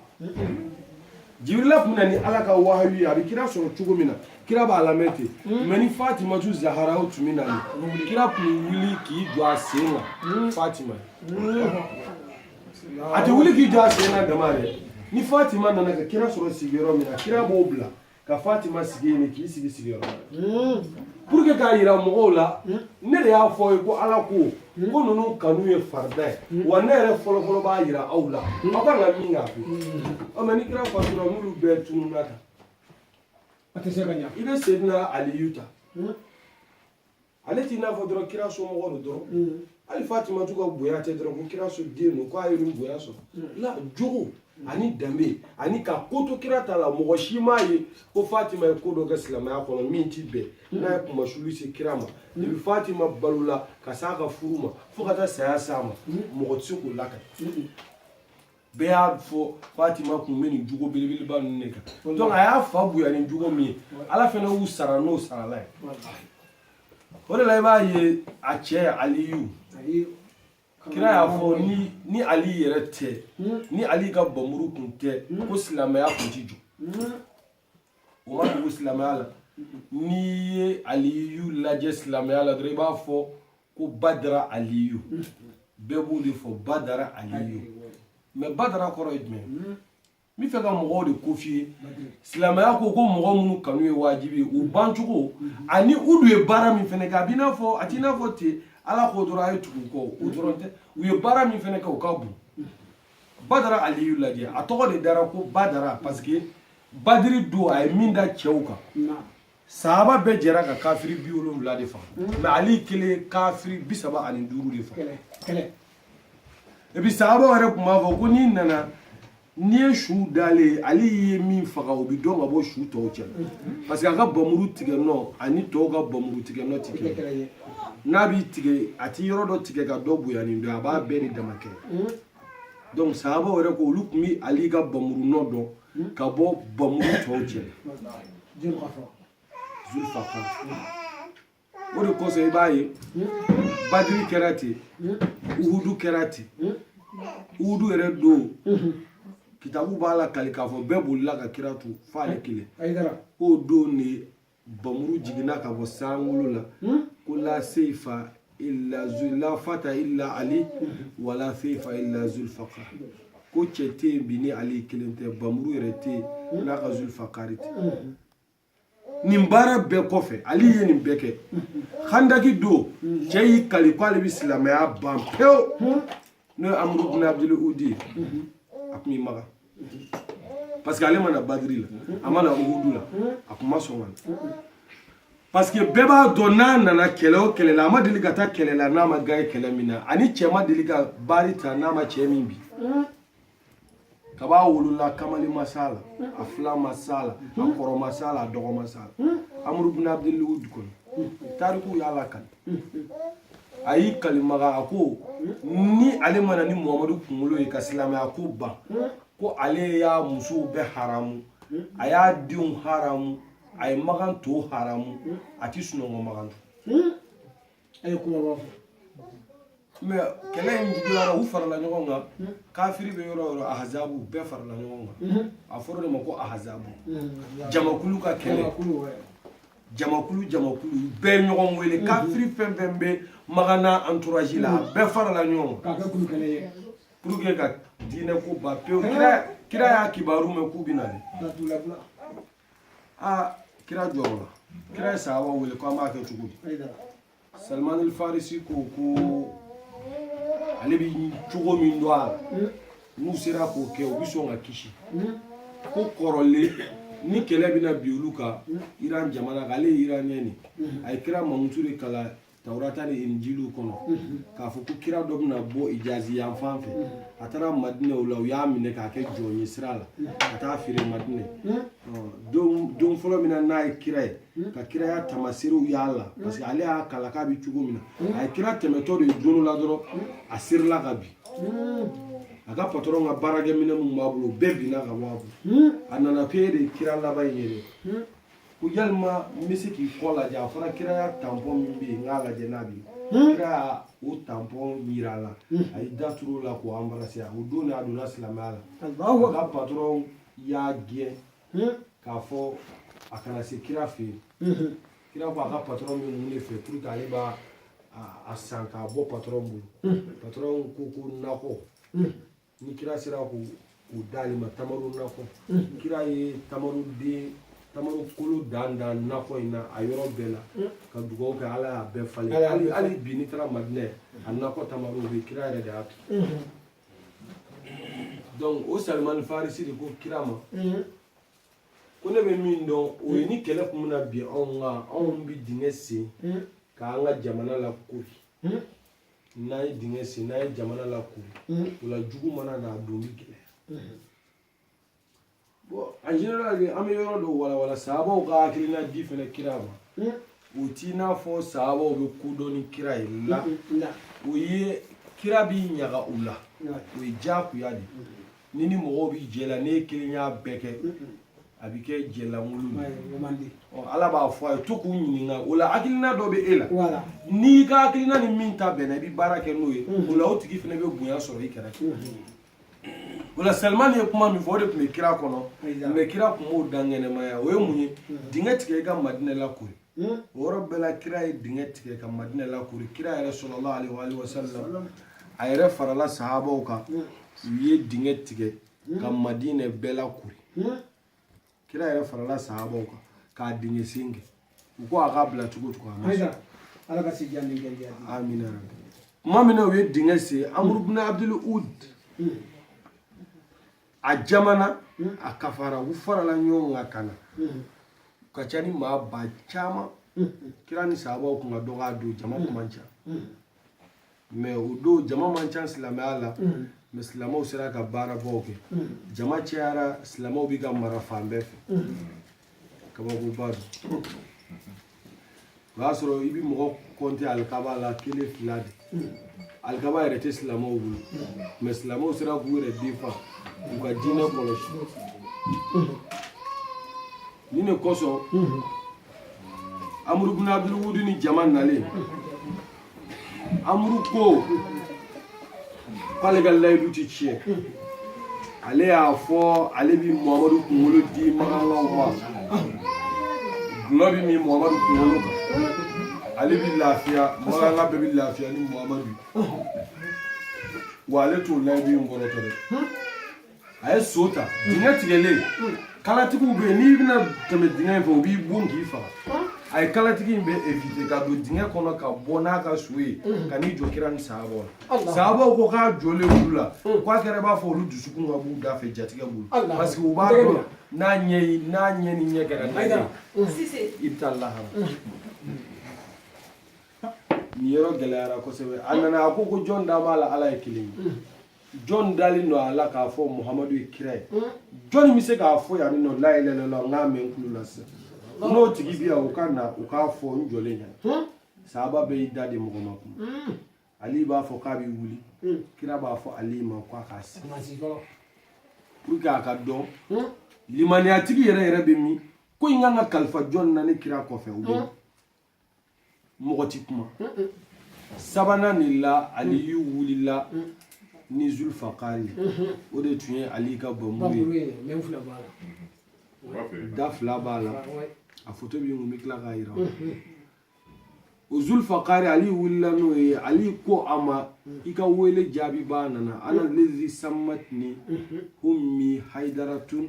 jibirila tun bɛ na ni ala ka wahayu ye a bɛ kira sɔrɔ cogo min na kira b'a lamɛn ten mais ni fatimatu zahara tun bɛ na kira tun bɛ wuli k'i jɔ a sen kan fatima a tɛ wuli k'i jɔ a sen na dama dɛ ni fatima nana ka kira sɔrɔ sigiyɔrɔ min na kira b'o bila ka fatima sigi yen k'i sigi sigiyɔrɔ la pour que k'a yira mɔgɔw la ne de y'a fɔ ye ko ala ko n ko ninnu kanu ye farida ye wa ne yɛrɛ fɔlɔfɔlɔ b'a yira aw la aw kan ka min k'a fɛ ɔ mais ni kira fatura n'olu bɛɛ tununa kan a tɛ se ka ɲa i bɛ sedina aliyu ta ale t'i n'a fɔ dɔrɔn kira somɔgɔ don dɔrɔn mm. hali fatimatu ka bonya tɛ dɔrɔn ko kira so den don k'a ye nin bonya sɔrɔ mm. la jogo mm. ani danbe ani ka ko to kira ta la mɔgɔ si m'a ye ko fatima ye ko dɔ kɛ silamɛya kɔnɔ min ti bɛn n'a ye kumasuli se kira ma depuis fatima balola ka s'a ka furu ma fo ka taa saya s'a ma mɔgɔ tɛ se k'o lakali bɛɛ y'a fɔ fatima kun bɛ nin jogo belebeleba ninnu de kan donc a y'a fa bonya ni jogo min ye ala fana y'u sara n'o sarala ye o de la i b'a ye a cɛ aliyu kira y'a fɔ ni ni ali yɛrɛ tɛ ni ali ka npanmuru kun tɛ ko silamɛya kun ti jɔ ma dogo silamɛya la n'i ye aliyu lajɛ silamɛya la dɔrɔn i b'a fɔ ko badara aliyu bɛɛ b'o de fɔ badara aliyu mais badara kɔrɔ ye jumɛn n b'a fɛ ka mɔgɔw de ko f'i ye silamɛya ko ko mɔgɔ minnu kanu ye wajibi ye u bancogo ani u dun ye baara min fana kɛ a b'i n'a fɔ a t'i n'a fɔ ten ala ko dɔrɔn a ye tugu u kɔ o dɔrɔn tɛ u ye baara min fana kɛ o ka bon badara aliyu lajɛ a tɔgɔ de dara ko badara parce que badiri don a ye min da cɛw kan sahaba bɛɛ jɛra ka kafiri bi wolonwula de faga mais ali kelen ye kafiri bi saba ani duuru de faga et puis sahabaw yɛrɛ tun b'a fɔ ko n'i nana n'i ye su dalen ye ale ye min faga o bɛ dɔn ka bɔ su tɔw cɛ parce que a ka bamuru tigɛ nɔ ani tɔw ka bamuru tigɛ nɔ tɛ kelen ye n'a b'i tigɛ a ti yɔrɔ dɔ tigɛ ka dɔ bonya ni dɔ a b'a bɛɛ de dama kɛ donc sahabaw yɛrɛ ko olu tun bi ali ka bamuru nɔ dɔn ka bɔ bamuru tɔw cɛ zulfaqar o de kosɔn i b'a ye badiri kɛra ten uhudu kɛra ten uhudu yɛrɛ don kitabu b'a lakali k'a fɔ bɛɛ bolila ka kira to f'ale kelen k'o don de bamuru jiginna ka bɔ sankolo la hmm? ko la seifa illa la fata illa ali hmm. wala seifa illa zulfaqar ko cɛ tɛ yen bi ni ali kelen tɛ bamuru yɛrɛ tɛ yen hmm? n'a ka zulfaqari tɛ nin baara bɛɛ kɔfɛ ali ye nin bɛɛ kɛ handaki don cɛ y'i kali ko ale bɛ silamɛya ban pewu n'o ye amru bin abdul udi a tun bɛ maga parce que ale ma na badiri la a ma na uhudu la a kun ma sɔn ka na parce que bɛɛ b'a dɔn n'a nana kɛlɛ o kɛlɛ la a ma deli ka taa kɛlɛ la n'a ma gaɲɛ kɛlɛ min na a ni cɛ ma deli ka baari ta n'a ma cɛ min bin kaba a wolola kamalen ma s'a la a filan ma s'a la a kɔrɔ ma s'a la a dɔgɔ ma s'a la amru bin abdul udi kɔni tarikuw y'a lakali a y'i kali maga a ko ni ale ma na ni muhamadu kunkolo ye ka silamɛya ko ban ko ale y'a musow bɛɛ haramu a y'a denw haramu a ye magan to haramu a ti sunɔgɔ magan tugun a ye kumaba fɔ mais kɛlɛ in juguyara u farala ɲɔgɔn kan kafiri bɛ yɔrɔ o yɔrɔ ahazabu bɛɛ farala ɲɔgɔn kan a fɔra o de ma ko ahazabu jamakulu ka kɛlɛ jamakulu jamakulu bɛɛ ɲɔgɔn wele kafiri fɛn fɛn bɛ maga n'a entourage la a bɛɛ farala ɲɔgɔn kan pour que ka diinɛ ko ban pewu kira y'a kibaru mɛn k'u bɛ na de aa kira jɔrɔla kira ye sahaba wele ko an b'a kɛ cogo di salman al farisi ko ko ale bi cogo min dɔn a la n'u sera k'o kɛ u bi sɔn ka kisi ko kɔrɔlen ni kɛlɛ bɛna bin olu kan iran jamana kan ale ye iraniyɛn de a ye kira mankutu de kalan tawurata ni injili kɔnɔ k'a fɔ ko kira dɔ bɛna bɔ ijazi yan fan fɛ a taara madinɛ o la u y'a minɛ k'a kɛ jɔn ye sira la ka taa feere madinɛ don fɔlɔ min na n'a ye kira ye hmm? ka kiraya tamaserew y'a la hmm? parce que ale y'a kalan k'a bɛ cogo min na hmm? a ye kira tɛmɛtɔ de ye don la dɔrɔn a sirila ka bin a ka patɔrɔn ka baarakɛminɛn minnu b'a bolo bɛɛ binna ka bɔ a bolo a nana ko e de ye kira laban in ye dɛ ko yalima n bɛ se k'i kɔ lajɛ a fɔra kiraya tanpɔn min bɛ yen n k'a lajɛ n'a bɛ yen Hmm? kira o tanpɔn yir'a la hmm. a y'i da tur'o la k'o anbarase o don de a donna silamɛya la a ka patɔrɔn y'a gɛn k'a fɔ a kana se kira fɛ yen kira ko a ka patɔrɔn bɛ mun de fɛ pour que ale b'a a san k'a bɔ patɔrɔn bolo patɔrɔn ko ko nakɔ ni kira sera k'o d'ale ma tamaro nakɔ kira ye tamaro kolo dan nakɔ in na a yɔrɔ bɛɛ la ka dugawu kɛ ala y'a bɛɛ falen hali bi n'i taara madinɛ a nakɔ tamaro bɛɛ kira yɛrɛ de y'a turu donc o salimani farisi de ko kira ma ko ne bɛ min dɔn o ye ni kɛlɛ tun bɛna bin anw kan anw bɛ dingɛ sen k'an ka jamana lakori n'an ye dingɛ sen n'an ye jamana lakori o la jugu mana na a don bɛ gɛlɛya bon en général an bɛ yɔrɔ dɔ walawala sabaw ka hakilina di fɛnɛ kira ma o t'i n'a fɔ sabaw bɛ ko dɔn ni kira ye la o ye kira b'i ɲaga u la o ye diyagoya de n'i ni mɔgɔw bɛ jɛ la n'e kelen y'a bɛɛ kɛ a bɛ kɛ jɛ lankolon de ala b'a fɔ a ye to k'u ɲininka o la hakilina dɔ bɛ e la n'i ka hakilina ni min ta bɛnna i bɛ baara kɛ n'o ye o la o tigi fɛnɛ bɛ bonya sɔrɔ i kɛrɛfɛ o la salman ye kuma min fɔ o de tun bɛ kira kɔnɔ mais kira tun m'o dankɛnɛmaya o ye mun ye dingɛ tigɛ i ka madinɛ lakori o yɔrɔ bɛɛ la kira ye dingɛ tigɛ ka madinɛ lakori kira yɛrɛ sallallahu alaihi wasalam a yɛrɛ farala sahabaw kan u ye dingɛ tigɛ ka madinɛ bɛɛ lakori kira yɛrɛ farala sahabaw kan ka dingɛ sen kɛ u ko a k'a bila cogo cogo a ma sɔn ala ka se diya ni gɛlɛya di amina tuma min na u ye dingɛ sen amuru bin abdul ud hmm. a jamana hmm. a kafara u farala ɲɔgɔn kan ka na hmm. ka ca ni maa ba caman kira ni sahabaw kun ka dɔgɔ a don jama kun man ca mɛ o don jama man ca silamɛya la mɛ silamɛw sera ka baarabaw kɛ jama cayara silamɛw bɛ ka mara fan bɛɛ fɛ kabakoba don o y'a sɔrɔ i bɛ mɔgɔ kɔnte alikaba la kelen fila de alikaba yɛrɛ tɛ silamɛw bolo mɛ silamɛw sera k'u yɛrɛ défendre k'u ka diinɛ kɔlɔsi nin de kosɔn amuru bin abdulwudu ni jama nalen amuru ko k'ale ka layidu ti tiɲɛ ale y'a fɔ ale bi muhamadu kunkolo di makankaw ma gulɔ bi min muhamadu kunkolo kan ale bi lafiya makanka bɛɛ bi lafiya ni muhamadu wa ale t'o layidu in kɔrɔtɔ dɛ a ye so ta dingɛ tigɛlen kalatigiw bɛ yen n'i bɛna tɛmɛ dingɛ in fɛ u b'i bon k'i faga a ye kalatigi in bɛɛ evite ka don dingɛ kɔnɔ ka bɔ n'a ka so ye ka n'i jɔ kira ni sahabaw la sahabaw ko k'a jɔlen olu la k'a kɛra i b'a fɔ olu dusukun ka b'u da fɛ jatigɛ bolo parce que u b'a dɔn n'a ɲɛ n'a ɲɛ ni ɲɛ kɛra n'a ye i bɛ taa lahara nin yɔrɔ gɛlɛyara kosɛbɛ a nana a ko ko jɔn da b'a la ala ye kelen ye jɔn dalen don a la k'a fɔ muhamadu ye kira ye jɔni bɛ se k'a fɔ yan nɔ la ilaha illallah n k'a mɛn n tulo la sisan n'o tigi bɛ yan o ka na o k'a fɔ n jɔlen ɲɛna sahaba bɛɛ y'i da de mɔgɔ ma kun ali b'a fɔ k'a bɛ wuli kira b'a fɔ ali ma k'a k'a sigi pour que a k'a dɔn limaniyatigi yɛrɛ yɛrɛ bɛ min ko in kan ka kalifa jɔn na ne kira kɔfɛ o bɛ mɔgɔ ti kuma sabanan in la aliyu wulila ni zulfakari o de tun ye ali ka bamuru ye da fila b'a la a foto bɛ n kun n bɛ tila k'a yira o zulfakari ali wulila n'o ye ali ko a ma i ka wele jaabibaa nana ana lezi sammatini ummi haidaratun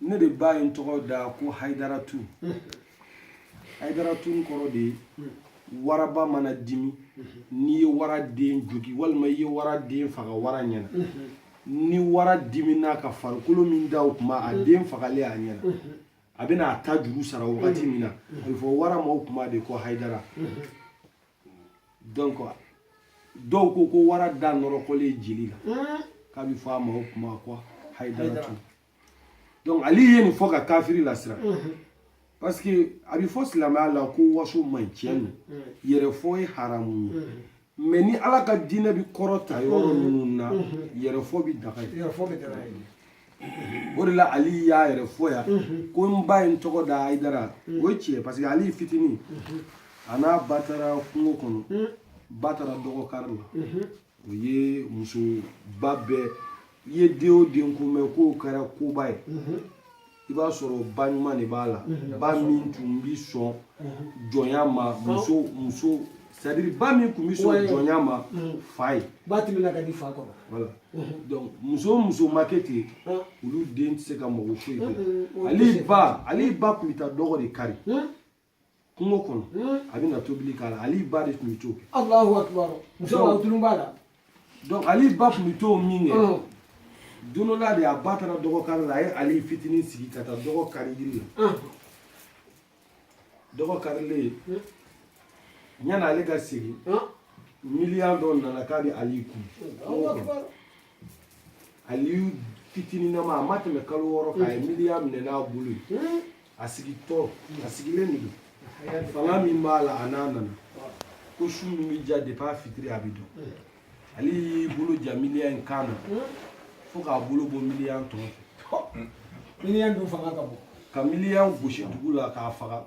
ne de ba ye n tɔgɔ da ko hayidaratu hayidaratun kɔrɔ de ye waraba mana dimi n'i ye wara den jogi walima i ye wara den faga wara ɲɛna ni wara dimina ka farikolo min da o kuma a den fagalen a ɲɛna a bɛna a tajuru sara wagati min na a bɛ fɔ wara ma o kuma de ko hayidara donc dɔw ko ko wara da nɔrɔkɔlen jeli la k'a bɛ fɔ a ma o kuma ko hayidaratu donc ali ye nin fɔ ka kafiri lasira parce que a bɛ fɔ silamɛya la ko waso man ɲi tiɲɛ don yɛrɛfɔ ye haramu ye mais ni ala ka diinɛ bɛ kɔrɔta yɔrɔ minnu na yɛrɛfɔ bɛ daga ye o de la ali y'a yɛrɛ fɔ yan ko n ba ye n tɔgɔ da hayidara o ye tiɲɛ parce que ali fitinin a n'a ba taara kungo kɔnɔ ba taara dɔgɔ kari la o ye musoba bɛɛ i ye den o den ko mɛn k'o kɛra koba ye i b'a sɔrɔ ba ɲuman de b'a la ba min tun bi sɔn jɔnya ma muso muso c'est à dire ba min tun bɛ sɔn jɔnya ma fa ye ba tun bɛ ka di fa kɔrɔ voilà donc muso o muso ma kɛ ten olu den tɛ se ka mɔgɔ foyi kɛ ale ba ale ba tun bɛ taa dɔgɔ de kari kungo kɔnɔ a bɛ na tobili k'a la ali ba de tun bɛ t'o kɛ alahu akibaru musoba tulo b'a la donc ali ba tun bɛ t'o min kɛ don dɔ la de a ba taara dɔgɔ kari la a ye ali fitinin sigi ka taa dɔgɔ kari yiri la dɔgɔ karilen yanni ale ka segin miniyan dɔ nana k'a bɛ ali kunu aliyu fitininama a ma tɛmɛ kalo wɔɔrɔ kan a ye mm. miniyan minɛ n'a bolo ye mm. a sigitɔ a sigilen de don fanga min b'a la bamanan ko su min bɛ diya depuis a fitiri a bɛ dɔn mm. ale y'i bolo ja miniyan in kan na fo k'a bolo bɔ miniyan tɔn fɛ miniyan dun fanga ka bon ka miniyan gosi dugu la k'a faga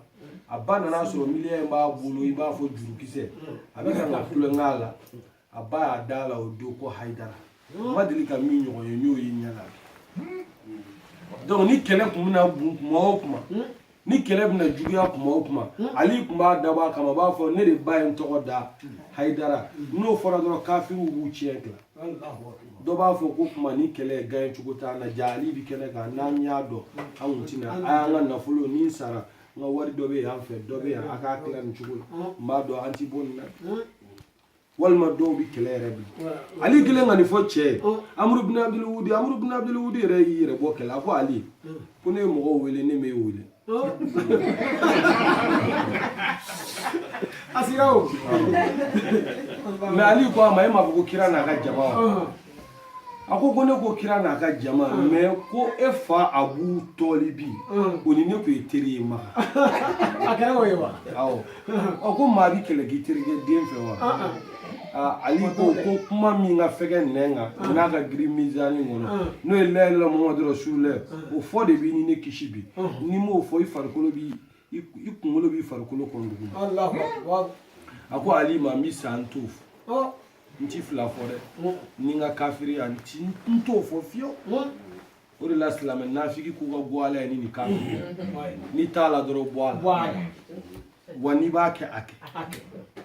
a ba nana sɔrɔ miniyan in b'a bolo i b'a fɔ jurukisɛ a bɛ ka tulonkɛ a la a ba y'a da la o don ko hayidara ma deli ka min ɲɔgɔn ye n y'o ye ɲɛ la donc ni kɛlɛ tun bɛna bun kuma o kuma ni kɛlɛ bɛna juguya kuma o kuma ali tun b'a dabɔ a kama a b'a fɔ ne de ba ye n tɔgɔ da hayidara n'o fɔra dɔrɔn kafiriw b'u tiɲɛ tila dɔ b'a fɔ ko kuma ni kɛlɛ gaɲɛ cogo t'an na jaa ali bi kɛnɛ kan n'an y'a dɔn an kun tɛ na a y'an ka nafolo ni n sara n ka wari dɔ bɛ yan fɛ dɔ bɛ yan a k'a tila nin cogo la n b'a dɔn an ti bɔ nin na walima dɔw bɛ kɛlɛ yɛrɛ bi ali kɛlen ka nin fɔ cɛ ye amuru bin abdul wudi amuru bin abdul wudi yɛrɛ y'i yɛrɛ bɔ kɛlɛ a ko ali ko ne ye mɔgɔw wele ne m'e wele a sira o mais ali ko a ma e m'a fɔ ko kira n'a ka jama wa a ko ko ne ko kira n'a ka jama mm. mais ko e fa abu tɔlibi mm. o ni ne tun ye teri ye makan a kɛra o ye wa awɔ ɔ ko maa bi kɛlɛ k'i terikɛ den fɛ wa ah, ah. Ah, ali ko ko kuma min ka fɛgɛ nɛn kan n'a ka girin mizani kɔnɔ n'o ye la ilaha illallah mamadu rasulullah o fɔ de b'i ni ne kisi bi n'i m'o fɔ i farikolo bi i kunkolo b'i farikolo kɔnɔ duguma a ko ali ma n bɛ sa n t'o fɔ n ti fila fɔ dɛ ni n ka kafiriya n ti n t'o fɔ fiyewu o de la silamɛ nafiki k'u ka bɔ ala ye ni nin kafiri n'i t'a la dɔrɔn bɔ a la wa n'i b'a kɛ a kɛ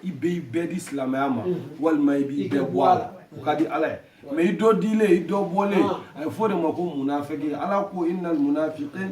i bɛ i bɛɛ di silamɛya ma walima i b'i bɛɛ bɔ a la o ka di ala ye mais i dɔ dilen i dɔ bɔlen a ye fɔ de ma ko munafiki ala ko innal munafikina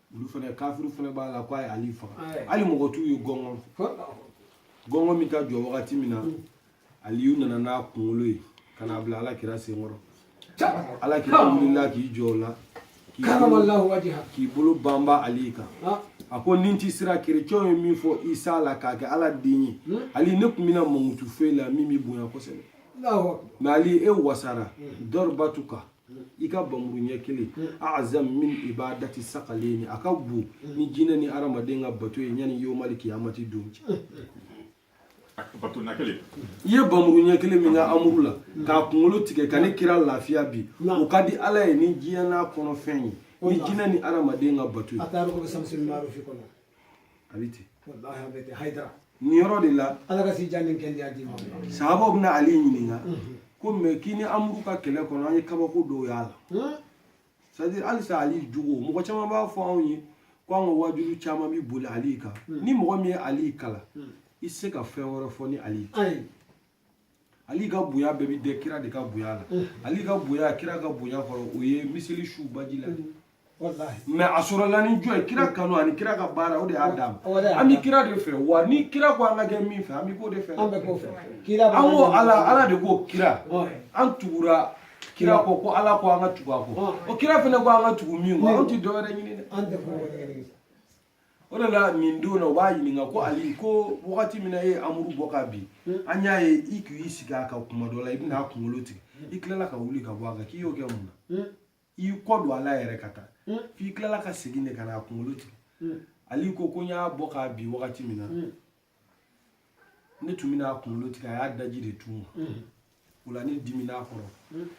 olu fana kafiri fana b'a la k'a ye ali faga hali mɔgɔ t'u ye gɔngɔn gɔngɔn min ka jɔ wagati min na aliyu nana n'a kunkolo ye ka n'a bila ala kira senkɔrɔ ala kira wulila k'i jɔ o la k'i bolo banba ali kan a ko ni n tɛ siran kerecɛnw ye min fɔ isa la k'a kɛ ala den ye hmm? ali ne tun bɛna mankutu fɔ i la min b'i bonya kosɛbɛ mais ali e wasara hmm. dɔribatuka i ka bamuru ɲɛ kelen azam min ibadati sakaleni a ka bon ni jinɛ ni adamaden ka bato ye yanni yomali kiyamati don cɛ i ye bamuru ɲɛ kelen min kɛ amuru la k'a kunkolo tigɛ ka ne kira lafiya bi o ka di ala ye ni diɲɛ n'a kɔnɔfɛn ye ni jinɛ ni adamaden ka bato ye a bɛ ten walahi a bɛ ten hayidara nin yɔrɔ de la ala ka si jan ni kɛnɛya d'i ma sahabaw bɛna ali ɲininka ko mais k'i ni amuru ka kɛlɛ kɔnɔ an ye kabako dɔw y'a la Hmm? c'est à dire halisa ali jogo mɔgɔ caman b'a fɔ anw ye ko an ka wajuli caman bɛ boli ali kan ni mɔgɔ min ye ali kalan i tɛ se ka fɛn wɛrɛ fɔ ni ali tɛ ayi ali ka bonya bɛɛ bɛ dɛn kira de ka bonya la ali ka bonya kira ka bonya kɔrɔ o ye miseli su baji la mais a sɔrɔla ni jɔn ye kira kanu ani kira ka baara o de y'a d'a ma an bɛ kira de fɛ wa ni kira ko an ka kɛ min fɛ an bɛ k'o de fɛ an ko ala ala de ko kira an tugura kira kɔ ko ala ko an ka tugu a kɔ o kira fana ko an ka tugu min kɔ an tɛ dɔwɛrɛ ɲini dɛ o de la nin don na u b'a ɲininka ko ali ko wagati min na e ye amuru bɔ ka bin an y'a ye i k'i sigi a kan kuma dɔ la i bɛna a kunkolo tigɛ i tilala ka wuli ka bɔ a kan k'i y'o kɛ mun na i y'i kɔ don a la yɛrɛ ka taa f'i tilala ka segin de ka na a kunkolo tigɛ ali ko ko n y'a bɔ ka bin wagati min na ne tun bɛna a kunkolo tigɛ a y'a daji de tu n ma o la ne dimina a kɔrɔ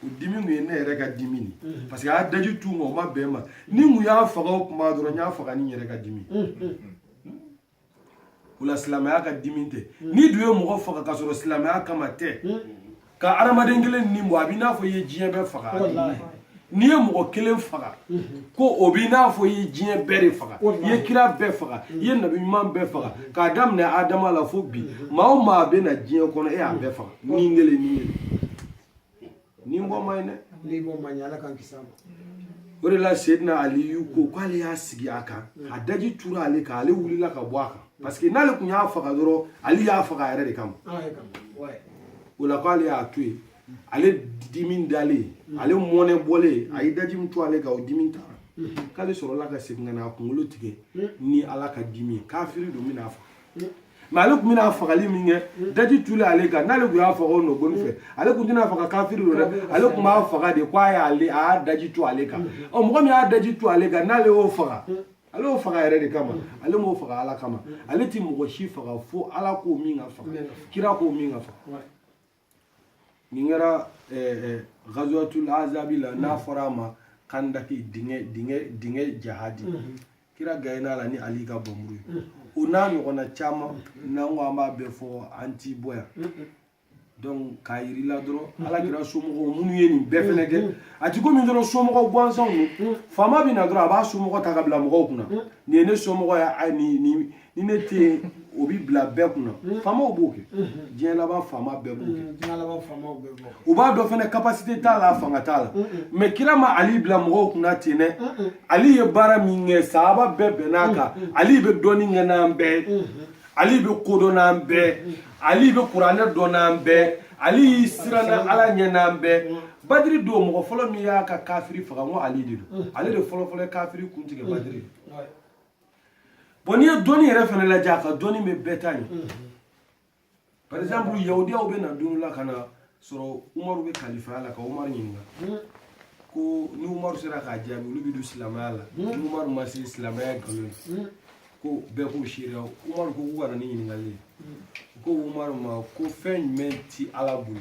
o dimi kun ye ne yɛrɛ ka dimi de parce que a y'a daji tu n ma o ma bɛn n ma ni n tun y'a faga o kuma dɔrɔn n y'a faga ni n yɛrɛ ka dimi o la silamɛya ka dimi tɛ n'i dun ye mɔgɔ faga ka sɔrɔ silamɛya kama tɛ ka hadamaden kelen ni bɔ a b'i n'a fɔ i ye diɲɛ bɛɛ faga n'i ye mɔgɔ kelen faga ko o b'i n'a fɔ i ye diɲɛ bɛɛ de faga i ye kira bɛɛ faga i ye nabi ɲuman bɛɛ faga k'a daminɛ adama la fo bi maa o maa bɛ na diɲɛ kɔnɔ e y'a bɛɛ faga ni kelen ni kelen ni bɔ man ɲi dɛ ni bɔ man ɲi ala k'an kisi a ma o de la sedina aliyu ko k'ale y'a sigi a kan a daji tura ale kan ale wulila ka bɔ a kan parce que n'ale tun y'a faga dɔrɔn ale y'a faga a yɛrɛ de kama o la k'ale y'a to yen ale dimi dalen ale mɔnɛ bɔlen a ye daji min tu ale kan o dimi taara k'ale sɔrɔla ka segin ka na a kunkolo tigɛ ni ala ka dimi ye kafiri don bɛna a faga mais ale tun bɛna fagali min kɛ daji tulen ale kan n'ale tun y'a faga o nɔgɔni fɛ ale tun tɛna faga kafiri don dɛ ale tun b'a faga de ko a y'a daji tu ale kan ɔ mɔgɔ min y'a daji tu ale kan n'ale y'o faga ale y'o faga yɛrɛ de kama ale m'o faga ala kama ale ti mɔgɔ si faga fo ala k'o min ka faga kira k'o min ka faga nin kɛra gazuwatul azabi la n'a fɔra a ma kandaki dingɛ jahadi kira gayina la ni ali ka banmuru ye o n'a ɲɔgɔnna caman n'an ko an b'a bɛɛ fɔ an ti bɔ yan k'a yir'i la dɔrɔn mhm. ala kira somɔgɔw minnu ye nin bɛɛ fɛnɛ kɛ mhm. a ti komi dɔrɔn somɔgɔ gansanw don mhm. faama bɛ na dɔrɔn a b'a somɔgɔ ta ka bila mɔgɔw kunna nin ye ne somɔgɔ ye ni ni ni ne tɛ yen o bɛ bila bɛɛ kunna faamaw b'o kɛ diɲɛ laban faama bɛɛ b'o kɛ u b'a dɔn fɛnɛ capacité t'a la fanga t'a la mais kira ma ali bila mɔgɔw kunna ten dɛ ali ye baara min kɛ sahaba bɛɛ bɛnn'a kan ali bɛ dɔnni kɛ n'an bɛɛ ye ali bɛ kodɔn n'an bɛɛ ali bɛ kuranɛ dɔn n'an bɛɛ ali siranna ala ɲɛ n'an bɛɛ badiri don mɔgɔ fɔlɔ min y'a ka kafiri faga ko ali de don ale de fɔlɔfɔlɔ kafiri kun tigɛ badiri bon n'i ye dɔnni yɛrɛ fɛnɛ lajɛ a ka dɔnni bɛ bɛɛ ta ɲɛ par exemple yahudiyaw bɛ na don la ka na sɔrɔ umaru bɛ kalifaya la ka umaru ɲininka hmm. ko ni umaru sera k'a jaabi olu bɛ don silamɛya la hmm. ni umaru ma se silamɛya nkalon ye hmm. ko bɛɛ k'u seereya umaru ko k'u ka na ni ɲininkali ye ko umaru ma ko fɛn jumɛn ti ala bolo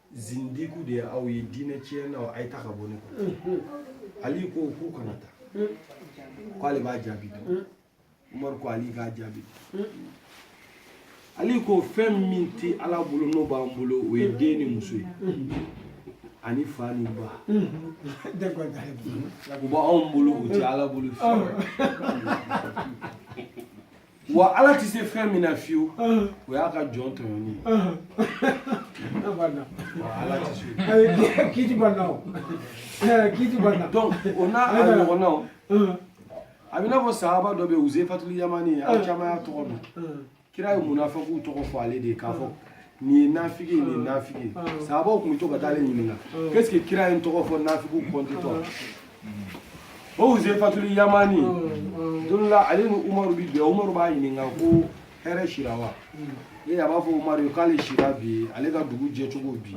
zindiku de ye aw ye diinɛ tiɲɛnaw a ye taa ka bɔ ne kɔ ali ko k'u kana taa k'ale b'a jaabi dɔn umaru ko ali k'a jaabi ali ko fɛn min tɛ ala bolo n'o b'an bolo o ye den ni muso ye ani fa ni ba o b'anw bolo o tɛ ala bolo fiyewu wa ala tɛ se fɛn min na fiyewu o y'a ka jɔn tɔɲɔni ye ala tɛ se kiti banna o kiti banna donc o n'a a ɲɔgɔnnaw a bɛ i n'a fɔ sahaba dɔ bɛ yen uzefatul yamani aw caman y'a tɔgɔ dɔn kira ye munafikiw tɔgɔ fɔ ale de ye k'a fɔ nin ye nafigi ye nin ye nafigi ye sahabaw tun bɛ to ka taa ale ɲininka k'est ce que kira ye n tɔgɔ fɔ nafigiw kɔntitɔ o uzefatul yamani don la ale ni umaru bi bɛn umaru b'a ɲininka ko hɛrɛ sira wa e a b'a fɔ umaru ye k'ale sira bi ale ka dugu jɛcogo bi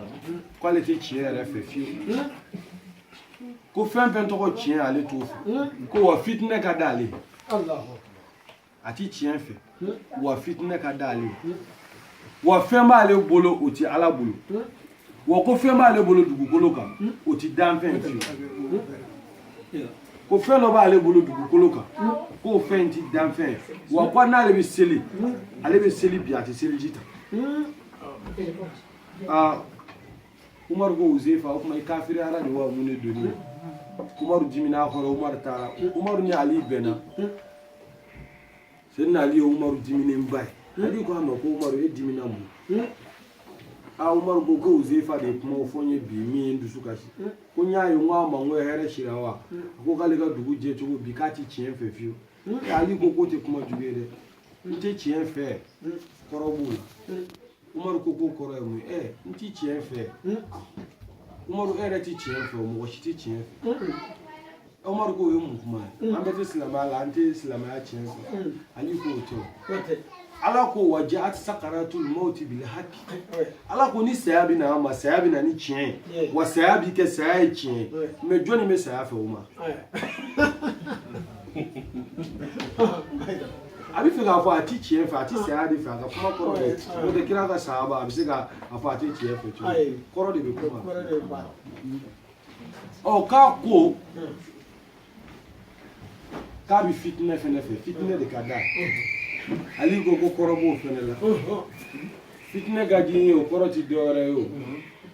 k'ale tɛ tiɲɛ yɛrɛ fɛ fiyewu ko fɛn fɛn tɔgɔ tiɲɛ ale t'o fɛ ko wa fitinɛ ka d'ale ye a ti tiɲɛ fɛ wa fitinɛ ka d'ale ye wa fɛn b'ale bolo o ti ala bolo wa ko fɛn b'ale bolo dugukolo kan o ti danfɛn fiyewu ko fɛn dɔ b'ale bolo dugukolo kan k'o fɛn ti danfɛn wa ko n'ale bɛ seli ale bɛ seli bi a tɛ seliji ta aa umaru ko uzefa o tuma i kafiriyara de wa mun de donni umaru dimin'a kɔrɔ umaru taara umaru ni ali bɛnna sɛdina ali ye umaru diminenba ye ali ko a ma ko umaru e dimina mun na umaru ko ko uzefa de ye kuma fɔ n ye bi min ye n dusu kasi ko n y'a ye n ko a ma n ko hɛrɛ sira wa a ko k'ale ka dugu jɛcogo bi k'a ti tiɲɛ fɛ fiyewu ali ko k'o tɛ kuma jugu ye dɛ n tɛ tiɲɛ fɛ kɔrɔ b'o la umaru ko k'o kɔrɔ ye mun ye ɛ n ti tiɲɛ fɛ umaru e yɛrɛ ti tiɲɛ fɛ mɔgɔ si ti tiɲɛ fɛ umaru k'o ye mun kuma ye an bɛɛ tɛ silamɛya la an tɛ silamɛya tiɲɛ fɛ ali k'o tɛ ala ko wa jaat sakaratul mawti bil haqq ala ko ni saya bɛ na an ma saya bɛ na ni tiɲɛ ye wa saya bɛ kɛ saya ye tiɲɛ ye mais jɔnni bɛ saya fɛ o ma a bɛ fɛ k'a fɔ a ti tiɲɛ fɛ a ti saya de fɛ a ka kuma kɔrɔ de n'o tɛ kira ka sahaba a bɛ se k'a fɔ a ti tiɲɛ fɛ cogo di? kɔrɔ de bɛ kuma ɔ k'a ko k'a bɛ fitinɛ fɛnɛ fɛ fitinɛ de ka d'a ye ali ko ko kɔrɔ b'o fɛnɛ la fitinɛ ka di n ye o kɔrɔ ti dɔwɛrɛ ye o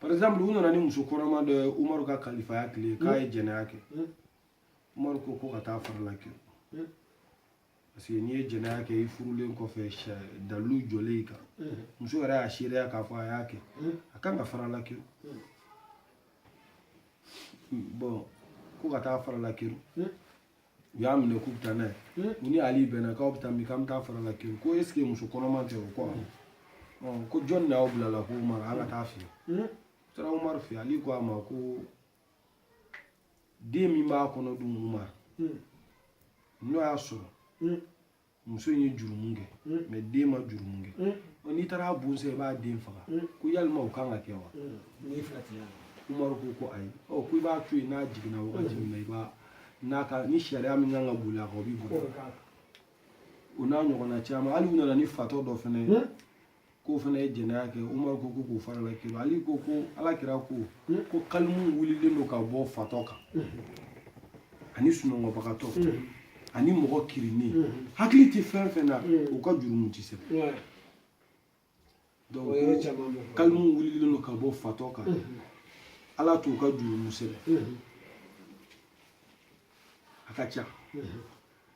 par exemple u nana ni muso kɔnɔma dɔ ye umaru ka kalifaya tile k'a ye jɛnɛya kɛ umaru ko ko ka taa farala kɛrun parce que n'i ye jɛnɛya kɛ i furulen kɔfɛ dalilu jɔlen i kan muso yɛrɛ y'a seereya k'a fɔ a y'a kɛ a kan ka farala kɛrun bon ko ka taa farala kɛrun u y'a minɛ k'u bɛ taa n'a ye hmm. u ni ali bɛnna k'aw bɛ taa min k'an bɛ taa fara la kiri ko est ce que muso kɔnɔma tɛ o ko awɔ hmm. ko jɔni de y'aw bila la ko umaru an ka taa a fɛ yen u taara umaru fɛ ali ko a ma ko den min b'a kɔnɔ dun umaru n'o y'a sɔrɔ muso in ye jurumu kɛ mais den ma jurumu kɛ n'i taara a bon sɛ i b'a den faga ko yalima o kan ka kɛ wa umaru ko ko ayi ɔ ko i b'a to yen n'a jiginna wagati min na i b'a n'a ka ni sariya min kan ka boli a kan o bi boli o n'a ɲɔgɔnna caman hali u nana ni fatɔ dɔ fana ye k'o fana ye jɛnɛya kɛ umaru ko ko k'o fara la kiri ali ko ko ala kira ko ko kalimu wulilen don ka bɔ fatɔ kan ani sunɔgɔbagatɔ ani mɔgɔ kirinnen hakili tɛ fɛn fɛn na u ka jurumu tɛ sɛbɛn kalimu wulilen don ka bɔ fatɔ kan ala t'u ka jurumu sɛbɛn a ka ca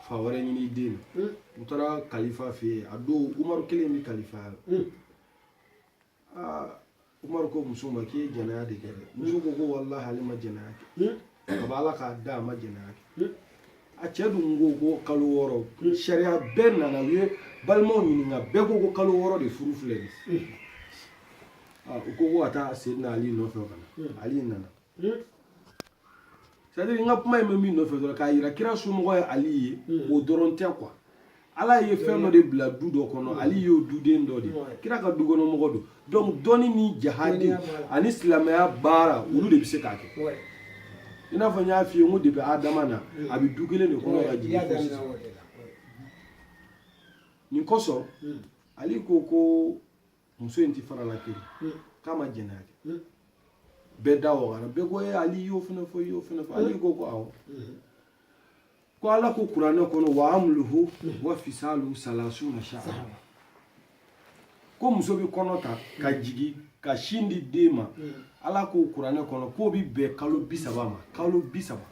fa wɛrɛ ɲini den na u taara kalifa fɛ yen a don umaru kelen bɛ kalifaya la aa umaru ko muso ma k'i ye jɛnɛya de kɛ dɛ muso ko ko walahi ale ma jɛnɛya kɛ a b'a la k'a da a ma jɛnɛya kɛ a cɛ dun ko ko kalo wɔɔrɔ sariya bɛɛ nana u ye balimaw ɲininka bɛɛ ko ko kalo wɔɔrɔ de furu filɛ nin u ko ko ka taa seyidina ali nɔfɛ ka na ali nana hmm? c'est à dire n ka kuma in bɛ min nɔfɛ dɔrɔn k'a yira kira somɔgɔ ye ali ye hmm. o dɔrɔn tɛ quoi ala ye fɛn dɔ de bila du dɔ kɔnɔ hmm. ali y'o duden dɔ de kira ka dukɔnɔmɔgɔ don donc dɔnni ni jahadi ani silamɛya baara olu de bɛ se k'a kɛ i n'a fɔ n y'a f'i ye n ko depuis adama na a bɛ du kelen de kɔnɔ ka jigin fo sisan nin kosɔn ali ko ko muso in ti fara la kiri hmm. k'a ma jɛnɛya kɛ hmm. bɛɛ da wagara bɛɛ ko e ali y'o fana fɔ ali ko ko awɔ ko ala ko kuranɛ kɔnɔ wa amuluhu wa fisalu salasuna shahra ko muso bɛ kɔnɔ ta ka jigin ka sin di den ma ala ko kuranɛ kɔnɔ k'o bɛ bɛn kalo bi saba ma kalo bi saba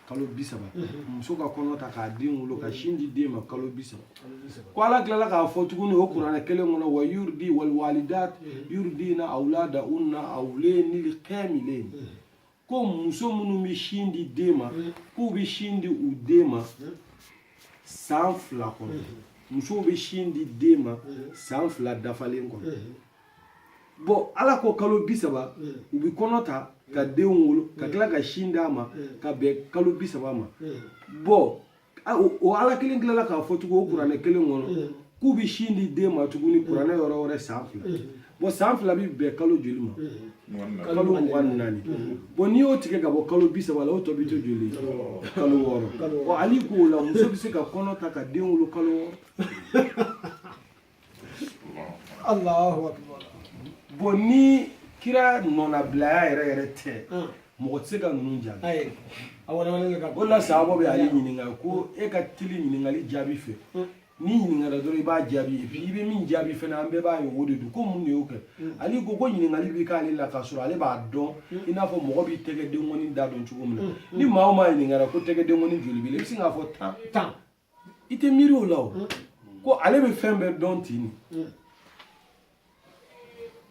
kalo bi saba muso ka kɔnɔ ta k'a den wolo ka sin di den ma kalo bi saba ko ala tilala k'a fɔ tuguni o kuranɛ kelen kɔnɔ wa yuridi wal walidat yuridina awladahunna awlenil kamilen ko muso minnu bɛ sin di den ma k'u bɛ sin di u den ma san fila kɔnɔ musow bɛ sin di den ma san fila dafalen kɔnɔ bon ala ko kalo bi saba mm. u bi kɔnɔ ta ka mm. den wolo ka mm. tila ka sin d'a ma ka bɛn kalo bi saba ma bon o ala kelen tilala k'a fɔ tugun o kuranɛ kelen kɔnɔ k'u bi sin di den ma tuguni kuranɛ yɔrɔ wɛrɛ san fila bon san fila bi bɛn kalo joli ma kalo mugan ni naani bon n'i y'o tigɛ ka bɔ kalo bi saba la o tɔ bi to joli kalo wɔɔrɔ bon ali k'o la muso bi se ka kɔnɔ ta ka den wolo kalo wɔɔrɔ Alahu akbar bon ni kira nɔnabilaya yɛrɛ yɛrɛ tɛ ah. mɔgɔ tɛ se ka ninnu jaabi o la sahabaw bɛ ali ɲininka ko e ka teli ɲininkali jaabi fɛ ah. n'i ɲininkara dɔrɔn i b'a jaabi et puis i bɛ min jaabi fana an bɛɛ b'a ye o de don ko mun de y'o kɛ mm. ali ko ko ɲininkali bɛ k'ale la k'a sɔrɔ ale b'a dɔn mm. i n'a fɔ mɔgɔ b'i tɛgɛ denkɔni da dɔn cogo min na mm. ni maa o maa ɲininkara ko tɛgɛ denkɔni joli b'i la i bɛ sin k'a fɔ tan tan i tɛ miiri o la o ko ale bɛ fɛn bɛɛ dɔn ten nin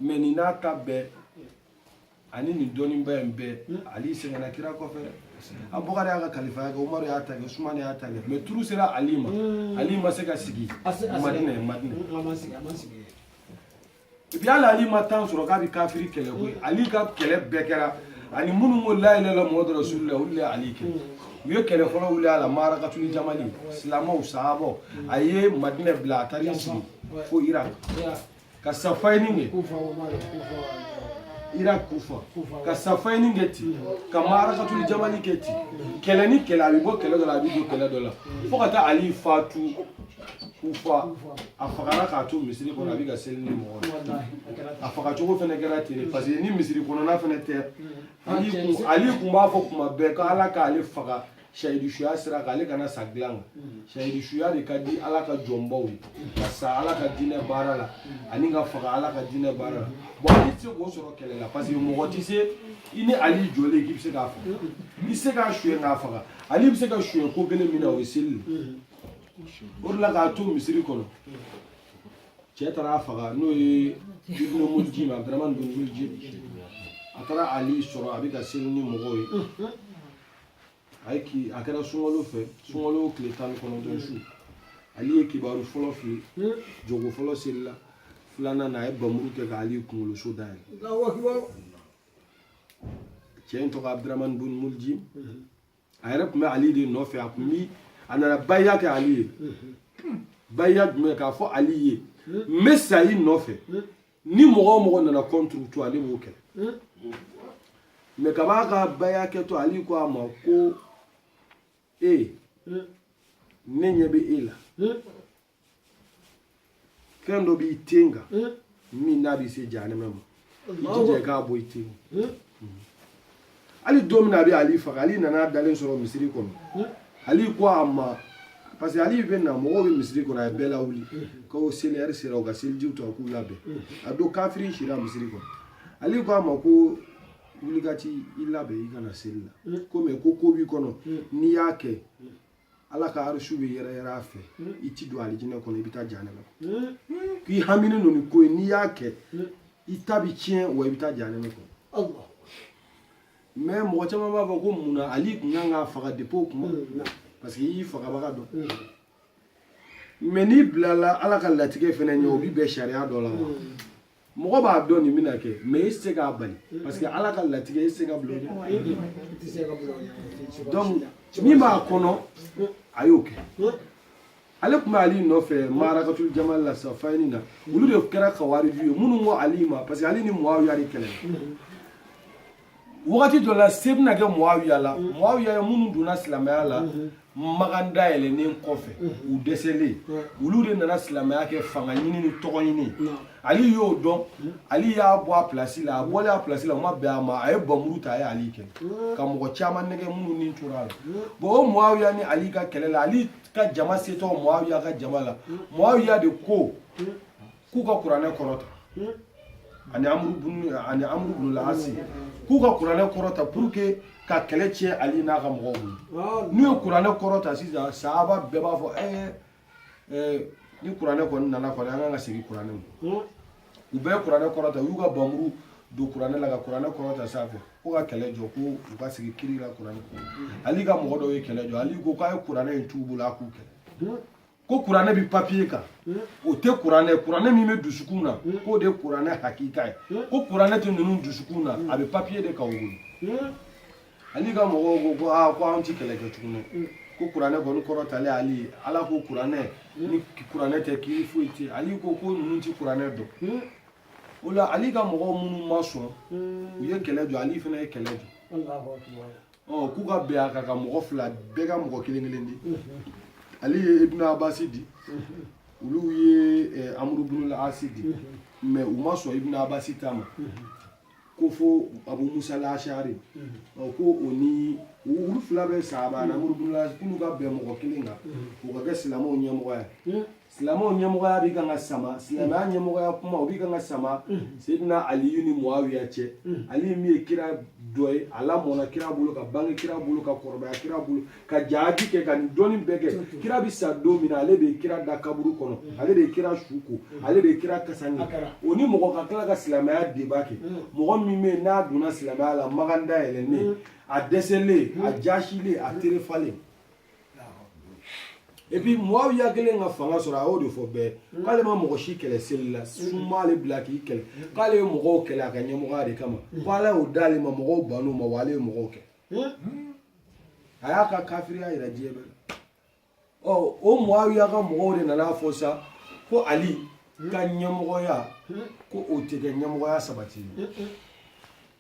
mais nin n'a ta bɛɛ ani nin dɔnniba in bɛɛ ali sɛgɛnna kira kɔfɛ abubakari y'a ka kalifaya kɛ umaru y'a ta kɛ sumani y'a ta kɛ mais turu sera ali ma ali ma se ka sigi madina ye madina Puis hali ali ma temps sɔrɔ k'a bɛ kafiri kɛlɛ koyi ali ka kɛlɛ bɛɛ kɛra ani minnu ko layilala muhamadu rasulula olu de ye ali kɛlɛ u ye kɛlɛ fɔlɔ wili a la marakatul jamal silamɛw sahabaw a ye madina bila a taara sigi fo iraki ka safayini kɛ iraki kufa ka safayini kɛ ten ka marakatul jamal kɛ ten kɛlɛ ni kɛlɛ a bɛ bɔ kɛlɛ dɔ la a bɛ don kɛlɛ dɔ la fo ka taa ali fatu kufa a fagara k'a to misiri kɔnɔ a bɛ ka seli ni mɔgɔw ye a fagacogo fana kɛra ten mm. parce que ni misiri kɔnɔna fana tɛ mm. ali kun b'a fɔ kuma bɛɛ ko ala k'ale faga sayidu suya sira kan ale kana sa dilan kan mm. sayidu suya de ka di ala ka jɔnbaw ye ka sa ala ka diinɛ baara la ani ka faga ala ka diinɛ baara la bon ali tɛ se k'o sɔrɔ kɛlɛ la parce que mɔgɔ tɛ se i ni ali jɔlen k'i bɛ se k'a faga i tɛ se k'a suɲɛ k'a faga ali bɛ se ka suɲɛ ko kelen min na o ye seli o de la k'a to misiri kɔnɔ cɛ taara a faga n'o ye ibnu muljim abdurahman bin muljim a taara ali sɔrɔ a bɛ ka seli ni mɔgɔw ye a ye ki a kɛra sunkalo fɛ sunkalo tile tan ni kɔnɔntɔn su ali ye kibaru fɔlɔ fili jɔko fɔlɔ selila filanan na a ye bamuru kɛ ka ali kunkolo so da yɛlɛ cɛ in tɔgɔ abdurahman bin muljim a yɛrɛ tun bɛ ali de nɔfɛ a tun bi a nana bayiya kɛ ali ye bayiya jumɛn k'a fɔ ali ye n bɛ sa i nɔfɛ ni mɔgɔ o mɔgɔ nana contre to ale b'o kɛlɛ mais kab'a ka bayiya kɛtɔ ali ko a ma ko e ne ɲɛ bɛ e la fɛn dɔ b'i ten kan min n'a bɛ se jahanama ma i jija i k'a bɔ i ten hali don min na a bɛ ali faga ali nan'a dalen sɔrɔ misiri kɔnɔ ali ko a ma parce que ali bɛ na mɔgɔw bɛ misiri kɔnɔ a ye bɛɛ lawuli ko seli heure sera u ka selijiw ta u k'u labɛn a don kafiri sira misiri kɔnɔ ali ko a ma ko wuli ka t'i labɛn i kana seli la ko mais ko ko b'i kɔnɔ n'i y'a kɛ ala ka arshu bɛ yɛrɛyɛrɛ a fɛ i ti don alijinɛ kɔnɔ i bɛ taa jahanama k'i haminen don ni ko ye n'i y'a kɛ i ta bi tiɲɛ wa i bɛ taa jahanama kɔnɔ mais mɔgɔ caman b'a fɔ ko mun na ali kun kan k'a faga depuis o kuma parce que i y'i fagabaga dɔn mais n'i bilala ala ka latigɛ fana ɲɛ o bi bɛn sariya dɔ la wa mɔgɔ b'a dɔn nin bɛna kɛ mais i tɛ se k'a bali parce que ala ka latigɛ i tɛ se ka bila o ɲɛ donc min b'a kɔnɔ a y'o kɛ ale tun bɛ ali nɔfɛ marakatul jamal la safayini na olu de kɛra kawariju ye minnu ko ali ma parce que ali ni muawiya de kɛlɛla wagati dɔ la se bɛna kɛ muawiya la muawiya ye minnu donna silamɛya la makan dayɛlɛnnen kɔfɛ u dɛsɛlen olu de nana silamɛya kɛ fanga ɲini ni tɔgɔ ɲini ali y'o dɔn ali y'a bɔ a pilasi la a bɔlen a pilasi la o ma bɛn a ma a ye bamuru ta a ye ali kɛlɛ ka mɔgɔ caman nɛgɛn minnu ni tor'a la bon o muawiya ni ali ka kɛlɛ la ali ka jama setɔ muawiya ka jama la muawiya de ko k'u ka kuranɛ kɔrɔta ani ani amuru bunul asi k'u ka kuranɛ kɔrɔta pour que ka kɛlɛ tiɲɛ ali n'a ka mɔgɔw bolo n'u ye kuranɛ kɔrɔta sisan sahaba bɛɛ b'a fɔ ɛɛ ni kuranɛ kɔni nana kɔni an kan ka segin kuranɛ ma u bɛɛ ye kuranɛ kɔrɔta u y'u ka bamuru don kuranɛ la ka kuranɛ kɔrɔta sanfɛ ko ka kɛlɛ jɔ ko u ka sigi kiri la kuranɛ kɔnɔ ali ka mɔgɔ dɔw ye kɛlɛ jɔ ali ko k'a ye kuranɛ in t'u bolo a k'u kɛlɛ ko kuranɛ bi papiye kan hmm? o tɛ kuranɛ kuranɛ min bɛ dusukun na hmm? k'o de ye kuranɛ hakika ye hmm? ko kuranɛ tɛ ninnu dusukun na a bɛ papiye de kan u bolo ali ka mɔgɔw ko ko aa ah, ko anw ti kɛlɛ kɛ tuguni ko kuranɛ kɔni kɔrɔtalen ali ala ko kuranɛ ni kuranɛ tɛ kiri foyi tɛ ali ko ko ninnu ti kuranɛ dɔn o la ali ka mɔgɔw minnu ma sɔn u ye kɛlɛ jɔ ali fana ye kɛlɛ jɔ ɔ k'u ka bɛn a kan ka mɔgɔ fila bɛɛ ka mɔgɔ kelen kelen di ali ye ibn abasi di olu ye amuru bin asi di mais u ma sɔn ibn abasi ta ma ko fo abu musa lashari ɔ ko o ni olu fila bɛ sahaba ani amuru bin asi k'olu ka bɛn mɔgɔ kelen kan o ka kɛ silamɛw ɲɛmɔgɔ ye silamɛw ɲɛmɔgɔya bɛ kan ka sama silamɛya ɲɛmɔgɔya kuma o bɛ kan ka sama sedina aliyu ni muawiya cɛ aliyu min ye kira dɔgɔ ye a lamɔna kira bolo ka bange kira bolo ka kɔrɔbaya kira bolo ka jaadi kɛ ka nin dɔnni bɛɛ kɛ kira bɛ sa don min na ale bɛ kira da kaburu kɔnɔ ale bɛ kira su ko ale bɛ kira kasange o ni mɔgɔ ka tila ka silamɛya débat kɛ mɔgɔ min bɛ yen n'a donna silamɛya la makan dayɛlɛnnen a dɛsɛlen a jasilen a terefalen et puis muawiya kelen ka fanga sɔrɔ a y'o de fɔ bɛɛ k'ale ma mɔgɔ si kɛlɛ seli la sun m'ale bila k'i kɛlɛ k'ale ye mɔgɔw kɛlɛ a ka ɲɛmɔgɔya de kama ko ala y'o d'ale ma mɔgɔw ban'o ma wa ale ye mɔgɔw kɛ a y'a ka kafiriya yira diɲɛ bɛɛ la ɔ o muawiya ka mɔgɔw de nana fɔ sa ko ali ka ɲɛmɔgɔya ko o tɛ kɛ ɲɛmɔgɔya sabati ye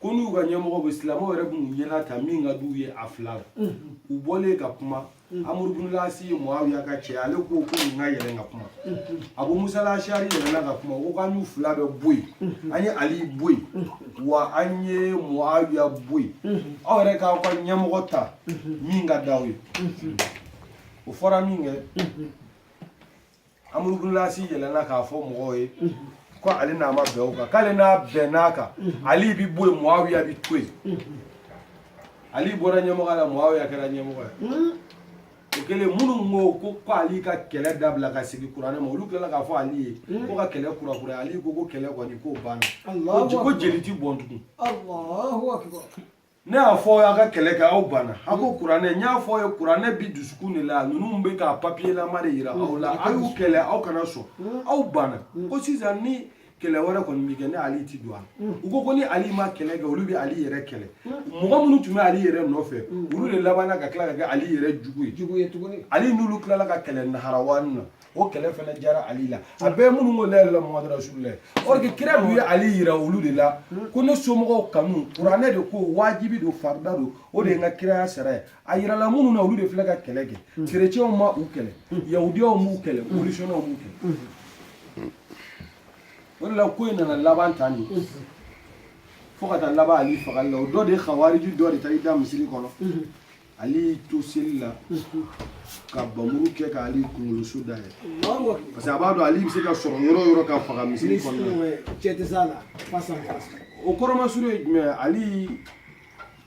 ko n'u ka ɲɛmɔgɔ bɛ silamɛw yɛrɛ b'u ɲɛna ta min ka d'u ye a fila la u bɔlen ka kuma amuru bunulasi ye muawiya ka cɛ ale ko ko nin ka yɛlɛn ka kuma abu musa lashari yɛlɛnna ka kuma ko k'an y'u fila bɛɛ bɔ yen an ye ali bɔ yen wa an ye muawiya bɔ yen aw yɛrɛ k'aw ka ɲɛmɔgɔ ta min ka d'aw ye o fɔra min kɛ amuru bunulasi yɛlɛnna k'a fɔ mɔgɔw ye ko ale n'a ma bɛn o kan k'ale n'a bɛnn'a kan ali bi bɔ yen muawiya bi to yen ali bɔra ɲɛmɔgɔya la muawiya kɛra ɲɛmɔgɔ ye o kɛlen minnu ko ko ali ka kɛlɛ dabila ka segin kuranɛ ma olu tilala k'a fɔ ali ye ko ka kɛlɛ kurakuraya ali ko ko kɛlɛ kɔni k'o banna ko jeli ti bɔn tugun ne y'a fɔ aw ka kɛlɛ kɛ aw banna a ko kuranɛ n y'a fɔ aw ye kuranɛ bi dusukun de la ninnu bɛ ka papiyelama de yira aw la a y'u kɛlɛ aw kana sɔn aw banna ko sisan ni kɛlɛ wɛrɛ kɔni bɛ kɛ ne ali ti don a la u ko ko ni ali ma kɛlɛ kɛ olu bɛ ali yɛrɛ kɛlɛ mɔgɔ minnu tun bɛ ali yɛrɛ nɔfɛ olu de labanna ka tila ka kɛ ali yɛrɛ jugu ye ali n'olu tilala ka kɛlɛ naharawani na o kɛlɛ fana jara ali la a bɛɛ minnu ko la ilaha muhamadu rasulila or que kira dun ye ali yira olu de la ko ne somɔgɔw kanu kuranɛ de ko wajibi don farida don o de ye n ka kiraya sara ye a yirala minnu na olu de filɛ ka kɛlɛ kɛ kerecɛnw ma u kɛlɛ yahudiyaw m'u kɛlɛ bolisɔnnaw m'u kɛlɛ o de la ko in nana laban tan de fo ka taa laban ali fagali la o dɔ de ye kawariji dɔ de taa i da misiri kɔnɔ ali to seli la ka panmuru kɛ ka ali kunkoloso dayɛlɛ parce que a b'a dɔn ali bɛ se ka sɔrɔ yɔrɔ o yɔrɔ ka faga misiri kɔnɔna cɛ tɛ s'a la face à face o kɔrɔmasuru ye jumɛn ye ali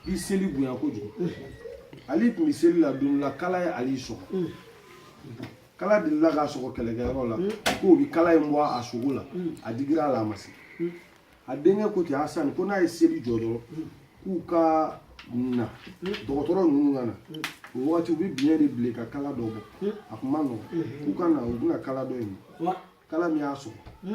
i seli bonya kojugu ali tun bɛ seli la don la kala ye ali sɔgɔ kala delila k'a sɔgɔ kɛlɛkɛyɔrɔ la k'u bɛ kala in bɔ a sogo la a digira a la a ma se a denkɛ ko ten hasani ko n'a ye seli jɔ dɔrɔn k'u ka na dɔgɔtɔrɔ ninnu ka na o wagati u bɛ biɲɛ de bilen ka kala dɔ bɔ a kun ma nɔgɔn k'u ka na u bɛna kala dɔ in kala min y'a sɔrɔ